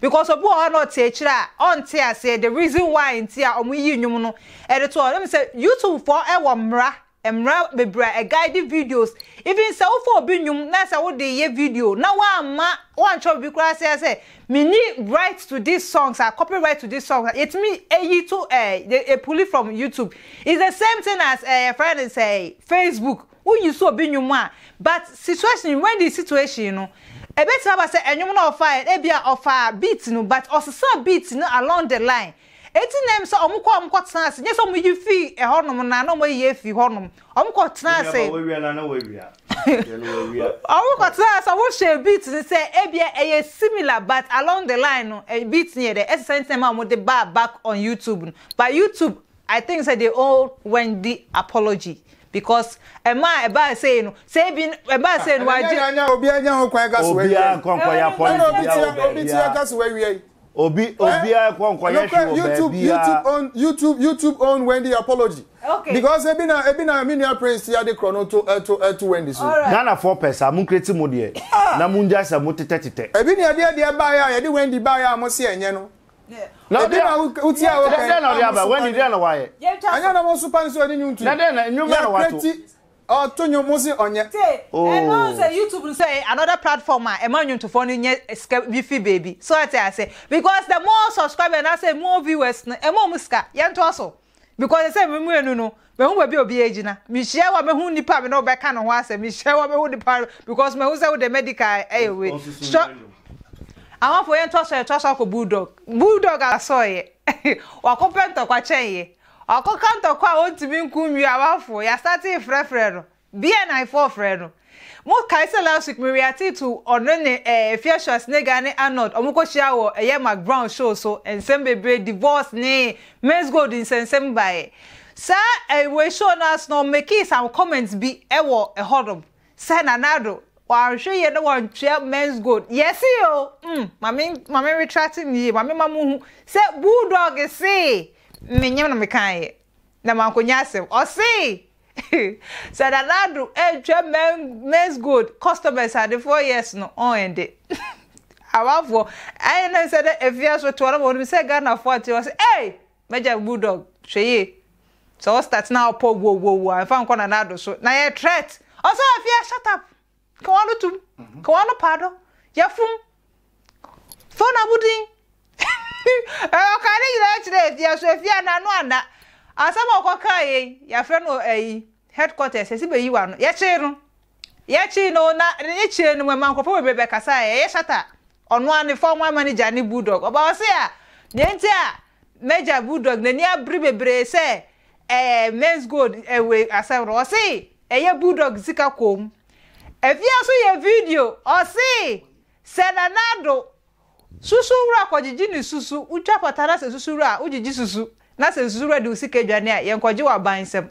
Because obi wɔ hɔ na ɔte akyire a ɔnte aseɛ the reason why nti a wɔn yi nnwom no de to hɔ. Wonim sɛ YouTube foɔ wɔ mmara, mmara bebree a ɛ guide videos. Even sɛ wofa obi nnwom na sɛ wode reyɛ video na woamma, woantwerɛ biribi koraa sɛ sɛ menni right to these songs a, copyright to these songs a, yɛtumi yi to ɛ, yɛ pulli from YouTube. It's the same thing as ɛ, yɛfrɛ no sɛ Facebook. Wo use obi nwom a but situation when the situation no ɛbɛtumi aba sɛ ɛnwom no a ɔfaeɛ no ebi a ɔfaa beat no but ɔsesaa beat no along the line enti na ɛm sɛ ɔmo kɔ a ɔmo kɔ tena ase nyɛ sɛ ɔmo yi fii ɛhɔ nom na na ɔmo ayi afiri hɔ nom ɔmo kɔ tena ase ɔmo kɔ tena ase ɔmo hyɛɛ beat no sɛ ebi a ɛyɛ similar but along the line no beat no yɛ dɛ ɛsesa nti na ɛma ɔmo de baa back on YouTube no but YouTube I think sɛ they owe Wendy apology because ɛma a ɛbaa sei no sɛ ebi ɛbaa sei no wagye. Ɛnɛ nya obiara nya ho kwan ka so awia yi. Obiara nkɔ nkɔ yɛ apology bia wɔ baabi a. Ɛna obi tia ka so awia yi. Obi obiara nkɔ nkɔ yɛ hwɛ wɔ baabi a. YouTube own YouTube YouTube own Wendy apology. Okay. Because ebi na ebi na mi nua Prince ti ade korɔ no to to to Wendy so. Ghana foɔ pɛ sa mo nkreti mo deɛ na mo ngya sa mo tetɛ tetɛ. Ebi ni ɛdeɛ deɛ baayɛ a yɛde Wendy baayɛ a mo se ɛnyɛ no. na ɔde na wotie a wɔka dɛn na ɔde aba wani dɛn na wayɛ ɛnyɛ na mo so pa ne sɛ ɔde nwom tu na dɛn na nwom na wato ti ɔto nwom mo se ɔnyɛ ɛno oh. sɛ youtube no sɛ another platform a ɛma nwontofoɔ no nyɛ sika bi fi baabi so ate ase because the more subscribers na sɛ more viewers no ɛma ɔmo sika yɛntoa so because sɛ me mmienu no mehu baabi a obi agyina mehyia wa mehu nipa a me ne wobɛka ne ho asɛm mehyia wa mehu nipa because mehu sɛ wode medical ɛyɛ wei sɔ ahɔfo yɛn tɔ so yɛn tɔ so akɔ bulldog bulldog asɔɔyɛ wakɔpɛ ntɔkwa kyɛnyɛ wakɔka ntɔkwa a wɔntumi nku nwi awafo yasate frɛfrɛ no BNI foɔ frɛ no. Mo kae sɛ last week me reacte to ɔno ne eh Efya Schwarzenegger ne Arnold ɔmo kɔ hyia wɔ ɛyɛ Mark Brown show so nsɛm bebree divorce ne Mens Gold nsɛnsɛm baeɛ. Saa eh wei show no ase no ɔmo makee some comments bi ɛwɔ ɛhɔ nom sɛ Nana Addo wanhwɛ yie na wantua Mens Gold yɛse o mm ma me ma me retracte no yie ma me ma mo hu sɛ Bulldog see menyem na mekaeɛ. na mankonya asɛm. Ɔsee sɛ Nana Addo antwa Men's Gold customers ade four years no ɔnde. Amanfoɔ ayɛ no sɛ dɛ afia so toa na wɔn nim sɛ Ghanafoɔ ate wɔn se ei m'agya Bulldog hwɛ yie sɛ ɔstart na ɔpɔ wowowowoo a mfa nkɔ Nana Addo so na yɛ threat ɔsɛ afia shut up. Ka w'ano tom, ka w'ano paa do, yɛfom, fa wɔn abodin. Ɔkaa ne nyinaa kyerɛ Afia, so Afia n'ano anna. Asɛm a ɔkɔkaa yɛ yi, yɛafrɛ no ayi, headquarters, yɛsi bɛyi w'ano. Yɛkyee no, yɛkyee no, na ne kyee no mu, ɛma nkurɔfoɔ bebree bɛkasaeɛ, ɛyɛ shatter. Ɔno ara ne former manager ne Bulldog ɔba ɔse a nea nti a Major Bulldog n'ani abere bebree sɛ ɛɛ Mens Gold wei asɛm no ɔse ɛyɛ Bulldog sika kɔɔ mu. Afia nso yɛ video ɔse sɛ Nana Addo susu wura kɔgyegye ne susu, wotwa pata na sɛ susu wura a wogyegye susu na sɛ susu wura de wo sika aduane a yɛnkɔgye wɔ aban nsam.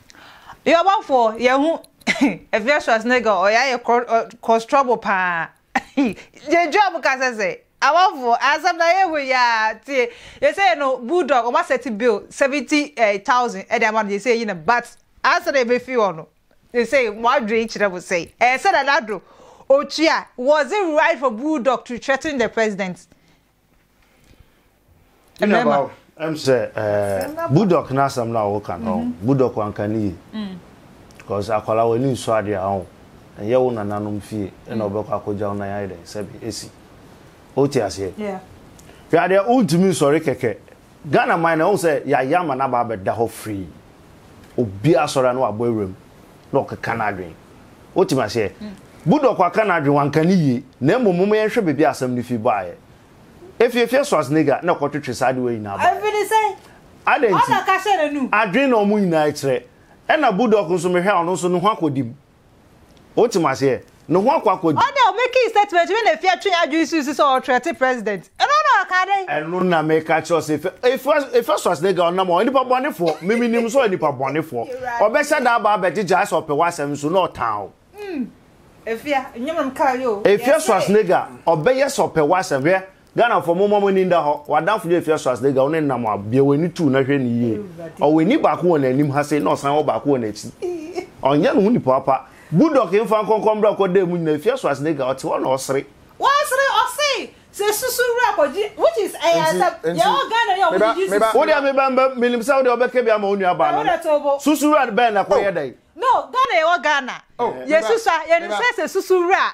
Yoruba foɔ yɛn ho ɛfɛ Schwarzenegger ɔyɛ ayɛ cross trouble paa yɛ job ka sɛ sɛ amanfoɔ asɛm na yɛ ho yaa tie yɛ sɛ yɛ no bulldog ɔma sɛti bill seventy eh, thousand ɛde ama no yɛ sɛ yɛ na but asɛ na yɛbɛfi hɔ no yɛ sɛ mo adwene kyerɛ mo sɛ ɛyɛ sɛ na nado otua was it right for bulldog to threaten the president mmarima. ɛm sɛ ɛɛ budok n'asɛm na ɔwɔ kan ɔn mhm. budok wanka ne yie mm. because akwara wɔ ani nsɔ adeɛ a ɔn ɛnyɛ wo nananom fie ɛna mm. ɔbɛkɔ akɔgya wo nan ayɛ dɛ sɛbi esi o ti aseɛ hwɛ adeɛ o ntumi nsɔre kɛkɛ ghana man na ɔn sɛ yaya ama n'aba abɛda hɔ free obi asɔre ano abɔ ewuram na ɔkeka n'adwene. Wotumi aseɛ? Budok aka n'adwene, wanka no yie. Na mmom momma yɛnhwɛ baabi a asɛm no fi baeɛ. Efi Efiɛ Schwarzenegger na ɛkɔtwetwe saa adewa nyinaa baeɛ. Ɛfiri sɛn? Adɛn nti? Ɔna ka hyɛ n'anum. Adwene na wɔn nyinaa kyerɛ. Ɛna Budok nso mehwɛ a ɔno nso ne ho akɔdi mu. Wotumi aseɛ? no ho akɔ akɔdi. Ɔda a ɔbɛkii statement no na Effi atwe adwene sii so sɛ ɔretrɛte President. Ɛno na ɔkaa dɛn? Ɛno na meka kyerɛ wo sɛ Effi, Effi Schwarzenegger a ɔnam hɔ, nnipa bɔnefoɔ, me menim nso ɔyɛ nipa bɔnefoɔ. Ɔbɛhyɛ da aba abɛgyegyaa sɛ ɔpɛ w'asɛm nso na ɔtaa wo. Effi Schwarzenegger ɔbɛyɛ sɛ ɔpɛ w'asɛm, hwɛ Ghanafoɔ momma mo ani nda hɔ, w'adamfo bi afi Asras Dega wo ne no nam a, bue w'ani tu na hwɛ no yie. Ɔwɔ ani baako wɔ n'anim ha sei na ɔsan wɔ baako wɔ n'akyi. Ɔnyɛ ne ho nipa pa. Budok mfa nkɔnkɔn bra kɔ dan mu nyina ɛfi Asras Dega ɔte hɔ na ɔsere. Wasere ɔse sɛ susu wura kɔgye which is ɛyɛ asɛm yɛwɔ Ghana yi a wɔdidi susu wura. Wo deɛ me ba menim sɛ wo deɛ wobɛka bi ama wo nua baa no no. Susu wura bɛn na ɛkɔyɛ dɛn? No Ghana yɛwɔ Ghana yɛsusu a yɛnim sɛ sɛ susu wura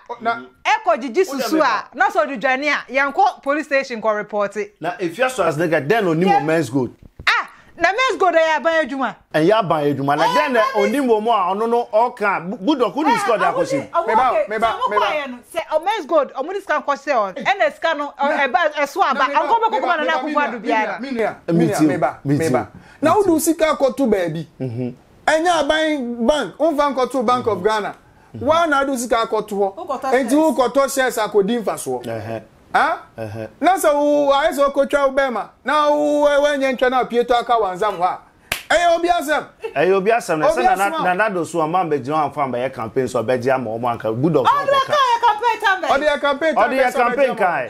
ɛkɔ gyegye susu a na sɛ ɔde dwane a yɛnkɔ police station nkɔ repɔte. Na efia so asene ka dɛn na onim wɔ men's gold. Ah na men's gold ɛyɛ aban adwuma. Ɛnyɛ aban adwuma na dɛn na onim wɔ mu a ɔno no ɔka a Goodluck wonim sika ɔde akɔhyɛ mu. Ɔho ok sɛ ɔmo kɔ ayɛ no sɛ men's gold ɔmo de sika nkɔ hyɛ hɔ no ɛna sika no ɛba ɛso aba anka ɔbɛkɔ kɔma Nana Akufo Addo biara. Menua menua meba meba na wode wo sika akɔto baabi ɛnyɛ aban bank womfa nkɔto bank of ghana woa na ade wo sika akɔto hɔ enti wokɔtɔ shares akɔdi mfasoɔ na sɛ ayɛ sɛ wokɔtwa wo bɛma na woanyɛ ntwa no apue tɔ aka wansam hɔ a ɛyɛ obi asɛm ɛyɛ obi asɛm na sɛ na na na do so ɔma mbɛgyina wɔn afa mbɛyɛ campaign so ɔbɛgye ama wɔn anka budɔfo ɔkɔka ɔde yɛ campaign ɔde yɛ campaign kan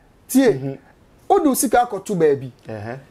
tie mhm. wode wo sika akɔto baabi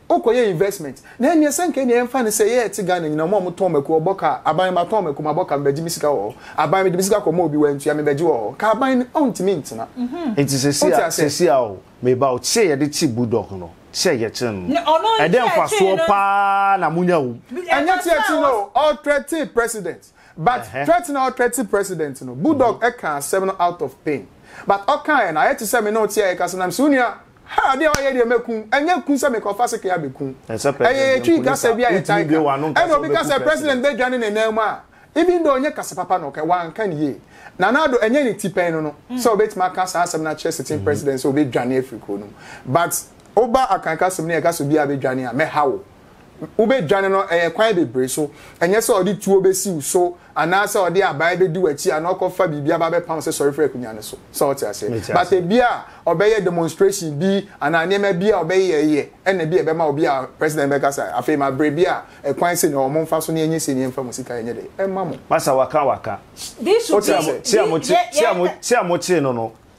wokɔyɛ investment na ɛneɛ sɛ nka ɛneɛ ɛmfa no sɛ yɛyɛ te ghana nyina ɔma ɔmotɔn mako ɔbɔ ka aban matɔn mako mabɔ ka mebɛgye me sika wɔ hɔ aban mede me sika kɔma obi wantua mebɛgye wɔ hɔ ka aban no ɔntumi ntena mhm. nti sɛsi a o meba o te sɛ yɛde kye budɔk no te sɛ yɛkye no ɛdɛ mfasoɔ paa na monya wom ɛnyɛ teɛkye no ɔtrɛte president But threat na ɔthreat president no, Budog ɛkaa asɛm no out of pain. But ɔkaeɛ no, ayɛ te sɛ me ne wo te a yɛkasa na mese wo nua, ha adeɛ a woayɛ deɛ mɛku wo. Ɛnyɛ ku sɛ mekɔ fa sekre abɛku wo. Ɛyɛ yɛn Twi kasa bi a yɛtae ka. Ɛna obi ka sɛ president bɛdwane ne nan mu a, even though ɛnyɛ kasa papa na ɔkae, wanka no yie. Nana Addo, ɛnyɛ ne ti pɛn no no sɛ ɔbɛtumi aka saa asɛm no akyerɛ sitting president sɛ ɔbɛdwane afiri kuro no mu. But woba Akan kasam no yɛka sɛ obiara bɛdwane a, mɛha wo. wobɛdwane no, ɛyɛ kwan bebree so. Ɛnyɛ sɛ ɔde tuo bɛsi wo so anaasɛ ɔde abae bɛdi w'akyi anaa ɔkɔfa biribi aba abɛpam wo sɛ sɔre firi akonnwa no so. Sɛ wote aseɛ? But ebi a ɔbɛyɛ demonstration bi anaa nneɛma bi a ɔbɛyɛyɛ ɛna bi a ɛbɛma obi a president bɛka sɛ afei ma berɛ bi a ɛkwan sei na ɛwɔ mo mfa so na yɛnyɛ sei na yɛmfa mo sika yɛnyɛ dɛn ɛmma mo. Masa waka waka. Wote aseɛ? Ti a motee no no,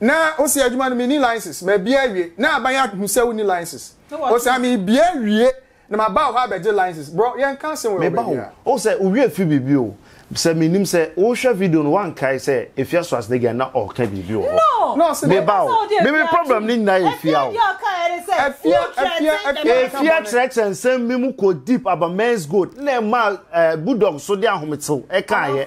na wo se adwuma no menni license mabie awie na aban ahu sɛ wonni license o sɛ mebie awie na maba wo hɔ abɛgye license bro yɛnka asɛm wɔ meba wo o sɛ wowie fi biribi o sɛ menim sɛ wohwɛ video no woankae sɛ efia so asene gɛn na ɔka biribi wɔ hɔ meba wo meme problem no nyinaa yɛ fia o efia kyerɛkyerɛ nsɛm bi mu kɔ deep aba men's gold na ɛma eh, budog so de ahometew ɛkaayɛ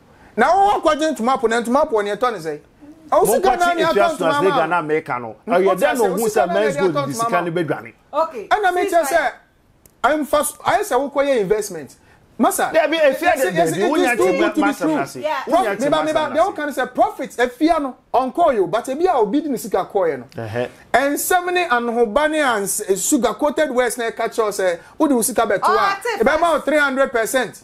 Na wo wa kɔgye ntoma po na ntoma po ɔne ɛtɔ ne sɛn? Ɔsi ka naa ne atɔ ntoma ama. Monkɔkye Efiastos ne Ghana meka no. Ɔyɛ dɛ na ohun sɛ men's gold de sika no bɛdwane. Ɛna me kyɛ sɛ ɛmfa so ayɛ sɛ wokɔ yɛ investment. Masa. Dabi efia de dabi wonya te ma masɛm na se. Wonya te ma masɛm na se. Deɛ woka no sɛ profit efia no ɔnkɔɔ yo but ebi a obi de ne sika kɔɔyɛ no. Ɛnsɛm ne anohoba ne sugar coated words na ɛka kyerɛ wo sɛ wode wo sika bɛto a ɛbɛma wo 300%.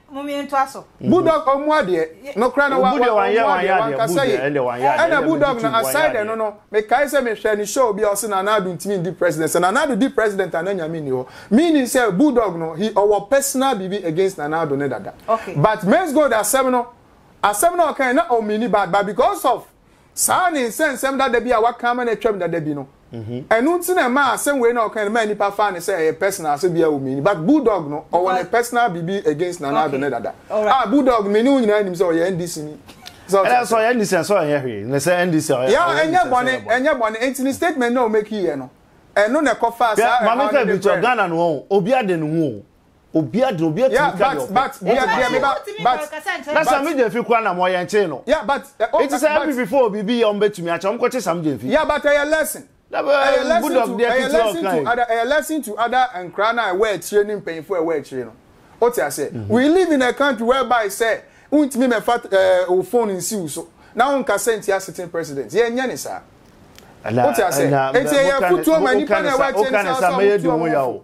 Momie ntoa so. Bulldog ɔmmu adeɛ nokorɛ no wa wa ɔmmu adeɛ wankasa yie ɛna bulldog no aside ɛno no mekae sɛ mehwɛ ne show bi a ɔse Nana Addo ntimi ndi president sɛ Nana Addo di president a na Nyame nni hɔ meaning sɛ bulldog no he ɔwɔ personal biribi against Nana Addo ne dada but Maize Gold asɛm no asɛm no a ɔkae na ɔmeani bad but because of Saa ne nsɛnsɛm dada bi a wɔaka ama no atwam dada bi no. Ɛno nti na ɛmaa asɛm wei na ɔkae no maa nnipa faa no sɛ ɛyɛ personal asɛm biara wɔ mu nni. But Bulldog no, ɔwɔ ne personal biribi against Nana Addo ne dada. Ah, Bulldog me ne wo nyinaa nim sɛ ɔyɛ NDC ni. Sɛ ɔte sɛ ɔyɛ NDC nso ɔnyɛ hwee. Ne sɛ NDC ɔyɛ NDC. Yeah, ɛnyɛ bɔne, ɛnyɛ bɔne. Nti ne statement na ɔmɛki yɛ no. Ɛno na ɛkɔfaa saa ɛhaw no de brɛ no. Maame Kra bi nso, Ghana no wɔn, obi ade ne ho o. obi adwene obi atumi ka deɛ ɔpɛ na sami gyemfi kura na mo yɛn kyee no eti sɛ npp fo obi bi yɛ ɔmo betumi akyɛ ɔmo kɔ kye sami gyemfi. ya but ɛyɛ lesson ɛyɛ lesson to ɛyɛ lesson to ada ɛyɛ lesson to ada nkura na ɛwɔ akyire ne mpanyinfo ɛwɔ akyire no o ti ase mhm. we live in a country whereby sɛ ntumi mɛfa ɛɛ o phone nsiw so na o nkasa nti asetin president yɛ nyɛ ne saa o ti ase eti ɛyɛ kutuo ma nipa na ɛwɔ akyire ne saa so a wɔn kutuo wɔn fo.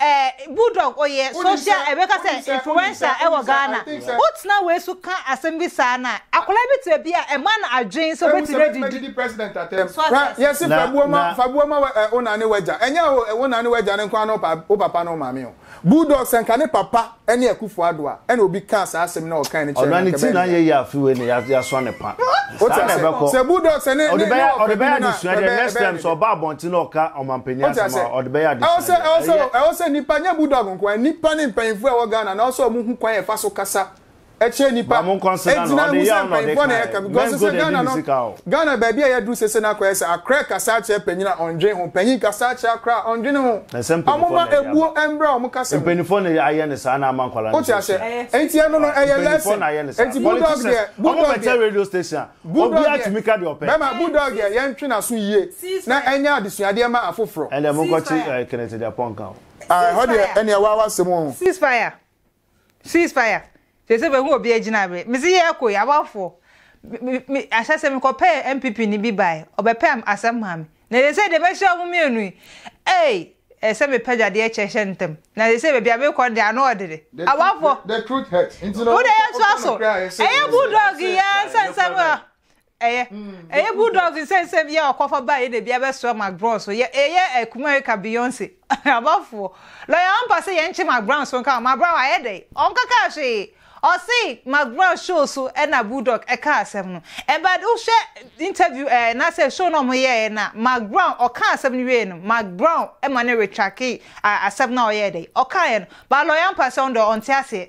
Eh bulldog oyɛ social eh bɛka sɛ influencer wɔ Ghana wo tena wei so ka asɛm bi saa no a akwadaa bi te baabi a ɛma no adwene sɛ obetumi adidi president atɛm so ate aseɛ. Yɛse fa buo ma fa buo ma wo na ne w'agya ɛnyɛ o wo na ne w'agya no nko ara ne wo papa ne wo maame o bulldog sɛ nka ne papa ɛne Akufo Addo a, ɛna obi kaa saa asɛm no a ɔkae no kyerɛ no a, anka ɛbɛyɛ ne ya. Wote aseɛ? Sɛ Bulldog sɛ ne ne ne ɔkɔ bi mu no a, ɛbɛyɛ ɛbɛyɛ ne fɛ. Wote aseɛ? Ɛwɔ sɛ ɛwɔ sɛ ɛwɔ sɛ nnipa nyɛ Bulldog nko ara, nnipa ne mpanyinfoɔ a ɛwɔ Ghana no ɛwɔ sɛ wɔn ho kwan a yɛfa so kasa ɛkyerɛ nipa ɛgyina ɛmu sɛ mpanyinfoɔ na ɛka because sɛ Ghana no Ghana baabi a yɛduru sese no akɔyɛ sɛ akorɛ kasa akyerɛ panyin a ɔndwen ho panyin kasa akyerɛ akorɛ a ɔndwen ho ɔmoma ebuo ɛmbrɛ ɔmo kasa mu mpanyinfoɔ na ayɛ ne saa na ama nkwadaa no sɛ hyɛ nti ɛno no ɛyɛ lesson nti bulldog deɛ bulldog deɛ radio station bulldog deɛ bɛma bulldog deɛ yɛntwe n'aso yie na ɛnyɛ adesuadeɛ ma afoforɔ ɛnna mo nkɔkye kenneth deɛ pɔnka o ɛhɔ deɛ ɛnna ɛwɔ awasɛm o ceasefire. Cease fire sese mehu obi agyina me mese yɛ kɔ yi amanfoɔ me me ahyɛ sɛ mekɔ pɛ NPP ni bi bae ɔbɛpɛ asɛm maa me na sese deɛ mahyia ɔmo mmienu yi ei ɛsɛ mepɛ gyadeɛ kyɛ hyɛ ntɛm na sese baabi a mekɔ no deɛ ano ɔdede amanfoɔ wode yɛtoa so ɛyɛ bulldog yi ara nsɛnsɛm a Ɛyɛ ɛyɛ bulldog nsɛnsɛm bi a ɔkɔfa baeɛ na ebi abɛsoa Mark Brown so. Yɛ ɛyɛ ɛkuma reka Beyonce. Abafoɔ. Lɔya ɔmpa sɛ yɛnkye Mark Brown so nka o. Mark Brown ayɛ dɛn? Ɔnkaka hwee. Ɔse Mark Brown show so ɛna bulldog ɛkaa asɛm no. Ɛ but wohwɛ interview ɛɛ anaasɛ show no a ɔmo yɛɛɛ no a, Mark Brown ɔkaa asɛm no wieeɛ no, Mark Brown ɛma no retracke a asɛm no a ɔyɛɛ dɛn? Ɔkaeɛ no. But lɔya ɔmpa sɛ ɔno deɛ ɔnte aseɛ.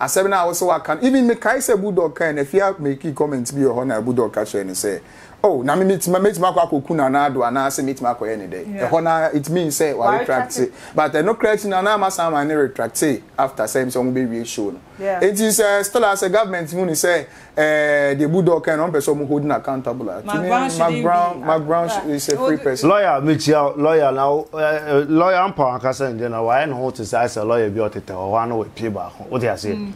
Asɛm no a wose waka no even mekae sɛ Budor kae no afie a makii comment bi wɔ hɔ na Budor ka kyerɛɛ no sɛ oh na me metumi mɛtumi akɔ akɔku Nana Addo anaasɛ mɛtumi akɔyɛ ne dɛn ɛhɔ no ara it means sɛ wa retract but ɛno koraa akyi no Nana Ama san ma ne retracte after sɛ sɛ wɔn bɛwie show no enti sɛ Stella sɛ government hu no sɛ Eh, the bulldog kind, one person holding accountable. Ah. Mark Brown, Mark Brown, Mark Brown ah, is a free person. Lawyer, me chia lawyer now. Eh, eh, lawyer, I'm power kasa nje na. Why no to say say lawyer bi otete o wa no we pie ba ko. What you say? Mm.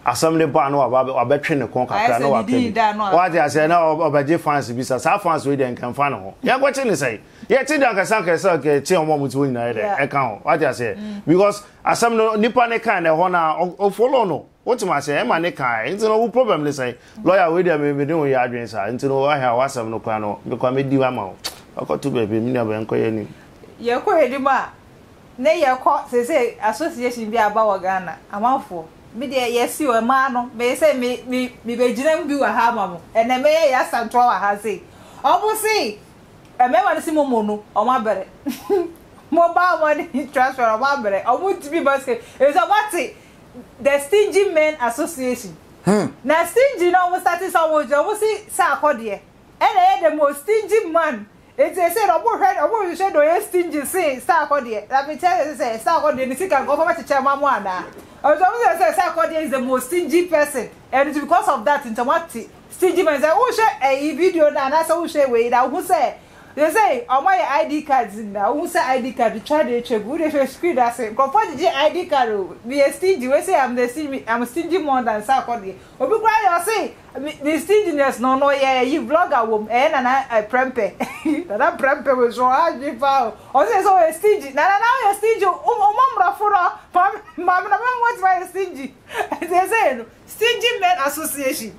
Asam ne ba no wa ba wa betwe ne kon kakra no wa pie. What you say na obaje fans bi sa. Sa fans we den kan fan ho. Ya gwache ne say. Ye ti dan kasa kasa ke ti omo mutu nyina ye de. E kan ho. What you say? Mm. Because asam no nipa ne kan e ho na o follow no. Wotem aseɛ ɛma ne ka ɛ nti no wo problem ne sɛn lawyer wei deɛ me mene wo yɛ adwene saa nti no wahɛ a wasɛm no koraa no mekɔ a mɛdi ama wo wakɔ to baabi me nua bɛn nkɔ yɛ anim. Yɛkɔ anim a ne yɛkɔ seisei association bi aba wɔ Ghana amanfoɔ me deɛ yɛse o ɛmaa no me se me me mebɛgyina mu bi wɔ ha ama mo ɛnɛ mɛyɛ yɛ asɛmtoa wɔ ha sei ɔmo se mmarima no se mo mo no ɔmo abɛrɛ mo baa mo ani transparent ɔmo abɛrɛ ɔmo ntumi ba sika efisɛ ɔmo ate the stingy men association hmm. na stingy na wɔn sati sɛ wɔn gyina wɔn si sɛ akɔdeɛ ɛna ɛyɛ the most stingy man eti ese na wɔn hwɛ wɔn hwehwɛ na ɔyɛ stingy se sɛ akɔdeɛ na mi kyɛ sɛ sɛ akɔdeɛ ne sika nkɔfɔ bɛ kyekyɛ ma mo anaa ɔtɔ mo sɛ sɛ sɛ akɔdeɛ is the most stingy person and it's because of that nti wɔn ate stingy man sɛ wɔn hwɛ ɛyi video na anaasɛ wɔn hwɛ wei na wɔn sɛ Sesei ɔmo ayɛ ID cards nyinaa, wohu sɛ ID card etwa de etwa gu, wode hwɛ screen ase, nkorɔfoɔ gyegye ID card o, meyɛ stingy wei sei am the stingy am stingy more than Sarkodie, obi koraa yɛ ɔse me ne stinginess no ɔno ɔyɛ ayi vlogger wom, ɛyɛ Nana Prɛmpɛ, Nana Prɛmpɛ wei so ɔha adwene paa o, ɔse sɛ ɔyɛ stingy, Nana na woyɛ stingy o, wo wo mɔ mmorɔfo no, maame maame na bɛma woatumi ayɛ stingy, sesei no stingy men association.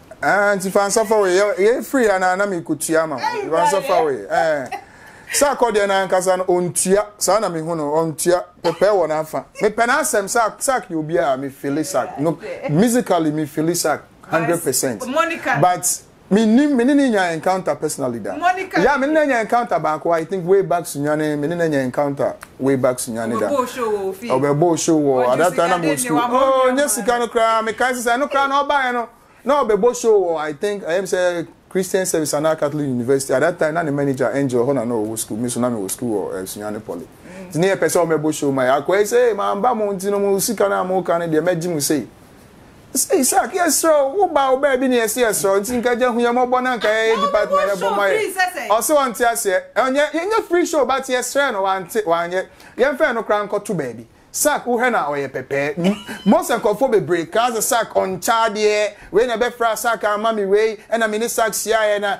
Ah, nti fa nsa fa wei. Yɛ free ya na na me kotua ma. Fa nsa fa wei. Eh. Sa kɔ deɛ na ankasa no ontua. Saa na me hu no ontua. Pepe wɔ na fa. Me pɛ na asɛm sa sa yɛ obi a me feel sa. No musically me feel sa 100%. Monica. But me ni me ni nya encounter personally da. Monica. Yeah, me ni nya encounter baako. I think way back sunyane me ni nya encounter. way back sunyani da ɔbɛ bɔ show wɔ at that time na mo school oh nye sika no koraa me kan sisan no koraa na ɔba yɛ no na ɔbɛ bɔ show wɔ i think ɛyɛ mi sɛ christian service anaa catholic university at that time na ne manager angel hɔ na na ɔwɔ school mi so na mi wɔ school wɔ eh, sunyani poly mm. ti ne yɛ pɛ sɛ ɔmɛ bɔ show ma yɛ akɔ ɛsɛ maa ba mo nti no mo sika na mo kan ne deɛ mɛ gye mo sei. Ese Isaac yɛsrɛ wo wo ba wo baabi na yɛse yɛsrɛ wo nti nka gya hu yɛ mmɔbɔ na nka yɛyɛ department ɛbɔ ma yɛ ɔse ɔnte aseɛ ɔnyɛ yɛnyɛ free show but yɛsrɛ no wante wanyɛ yɛmfɛn no koraa nkɔto baabi Sack wohwɛ na ɔyɛ pɛpɛɛ mm Mose nkurɔfoɔ bebree kaa sɛ Sack ɔnkyɛ adeɛ wei na ɛbɛfra Sack amma me wei ɛna me ne Sack hyiaeɛ na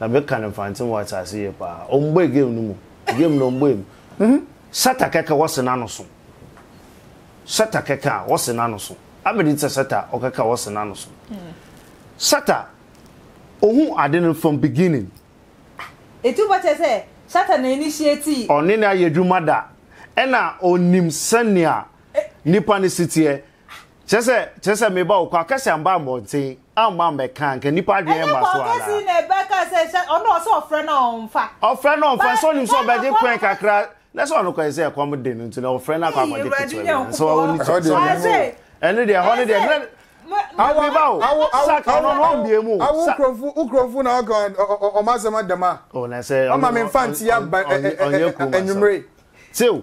Na me kan nfantsem wɔ asaase yie paa. Ɔmmbɔe game no mu. Game no ɔmmbɔe mu. Sɛta kɛkɛ wɔse n'anoso. Sɛta kɛkɛ a wɔse n'anoso. Abedi tsɛ sɛta ɔkɛkɛ a wɔse n'anoso. Sɛta ohu ade no from beginning. Etu bɔ kyerɛ sɛ Shatta na initiate. Ɔne no ayɛ adwuma da. Ɛna ɔnim sɛnea nipa no si teɛ. Kyerɛ sɛ, kyerɛ sɛ meba wo kɔ akɛse amba mbɔnten. amma ammɛka anka nipa adwene mma so ana. ɛnyɛ kɔnkɔsi na ɛbɛka sɛ hyɛ ɔno ɔsɛ ɔfrɛ na ɔnfa. ɔfrɛ na ɔnfa sɛ ɔnim sɛ ɔbɛgye kwan kakra na sɛ ɔno kɔɛ sɛ ɛkɔm de no nti na ɔfrɛ na akɔ akɔgye ketewa bi nso ɔwɔ ne kyɛ sɛ ɛno deɛ ɛhɔ no deɛ na awo ba o sa ɔno no ɔmbie mu awo nkurɔfo nkurɔfo na ɔka ɔmo asɛm adama ɔma me nfa ntia ba ɛnyɛ kurom asɛm ɛnyumere sew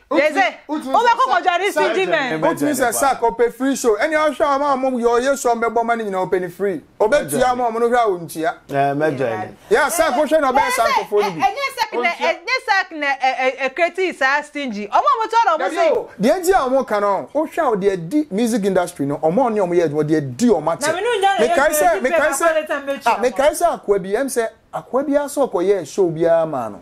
Yɛdze wobɛ kɔ kɔdwa ne CD mɛn. Wotumi sɛ sack ɔpɛ free show ɛne ahwɛ a ɔma ɔmo yɛ ɔyɛ show a ɔmo bɛbɔ ma no nyinaa ɔpɛ no free ɔbɛ tua ɔmo a ɔmo no hwɛ a ɔntua yeah sack wohwɛ na ɔbɛyɛ saa nkorɔfoɔ no bi ɛnyɛ sack na ɛnyɛ sack na ɛ create saa stingy ɔmo a ɔmo tua na ɔmo se. Dabi o deɛ nti a ɔmo ka no wohwɛ a ɔde adi music industry no ɔmo a ɔne ɔmo yɛ adwuma ɔde adi ɔmo akyɛ mekae sɛ mekae sɛ ah mekae sɛ akoa bi ɛm sɛ akoa bi ara sɛ ɔkɔ yɛɛ show bi ara maa no.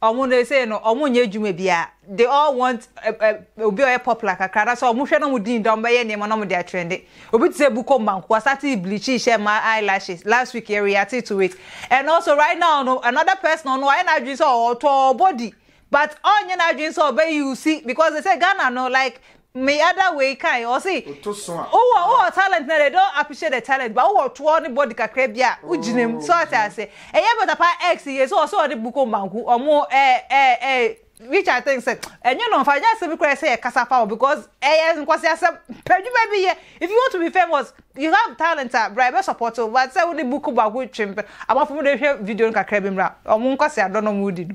Ɔmo no sei no ɔmo nyɛ adwuma biaa they all want obi a ɔyɛ popular kakra anaasɛ ɔmo hwɛ na ɔmo din da ɔmo bɛyɛ nneɛma na ɔmo de atrɛnde obi te sɛ Bukom Banku wasate bleaching hyɛ mmaa eye lashes last week yɛ reate to it and also right now no another person ɔno wayɛ n'adwene sɛ ɔtɔ body but ɔnyɛ n'adwene sɛ ɔbɛ use because they say Ghana no like Me other wei kae ɔse wowɔ wowɔ talent na they don't appreciate the talent but wowɔ toɔ ne body kakra bi a wo gyina mu so ate aseɛ ɛyɛ better paa ex yei so ɔse ɔne bukom banku ɔmo ɛɛ ɛɛ ɛɛ which I think sɛ ɛnyɛ no mfa nyɛ asɛm bi koraa sɛ yɛ kasa fa ho because ɛyɛ nkwasi asɛm pɛ dwuma bi yɛ if you want to be famous you have talent a bra yɛbɛ support wo but sɛ wone bukom banku twem pɛ abɔfo mo de hwɛ video no kakra bi mmra ɔmo nkwasi adɔ na ɔmo di no.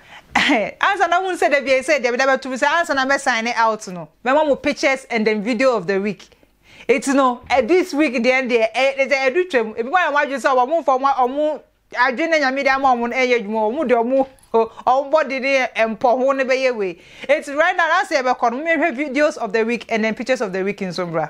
Ansa na wohu sɛ dabi ei sɛ deɛ meda bɛto mu sɛ ansa na mɛ sign out no mɛma mo pictures and then video of the week eti no this week deɛ deɛ ɛyɛ sɛ ɛdu twam ebi mo ayɛ mo adwene sɛ wɔn mfa wɔn wɔn adwene na nyame de ama wɔn no ɛnyɛ adwuma wɔn de wɔn wɔn body ne mpɔ ho no bɛyɛ wei eti right now na sɛ yɛbɛkɔ no mo mehwɛ videos of the week and then pictures of the week nso mbra.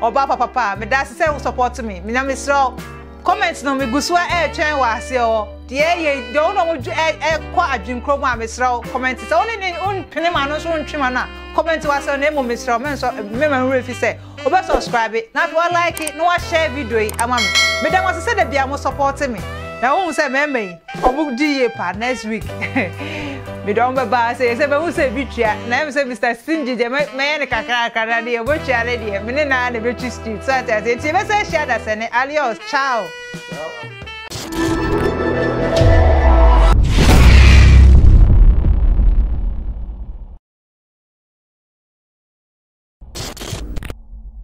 Ɔbaa papa paa, medase sɛ wo support me, na mesrɛ wo comment no megu so ɛretwɛn wɔ aseɛ hɔ. Deɛ ɛyɛ deɛ wo na ɔmo ɛkɔ adwenkuro mu a mesrɛ wo comment sɛ wo ne ne mpene ma no nso ntwe ma no a comment wɔ aseɛ hɔ na emu mesrɛ wo mensɔ mema nwura fi sɛ wobɛ subscribe na afei wa like na wa share video yi ama me. Meda mo ase sɛ da bia mo support me na wohu sɛ mɛɛma yi Ɔmo di yie paa next week me de ɔmo bɛba sɛ yɛ sɛ bɛhu sɛ ebi tua na ɛm sɛ Mr Stingy deɛ mɛ mɛyɛ ne kakrakra na deɛ ɔmo tua ne deɛ me ne naa na ebetwi street so ate ase nti yɛ bɛsɛ ahyia dasɛne alios ciao.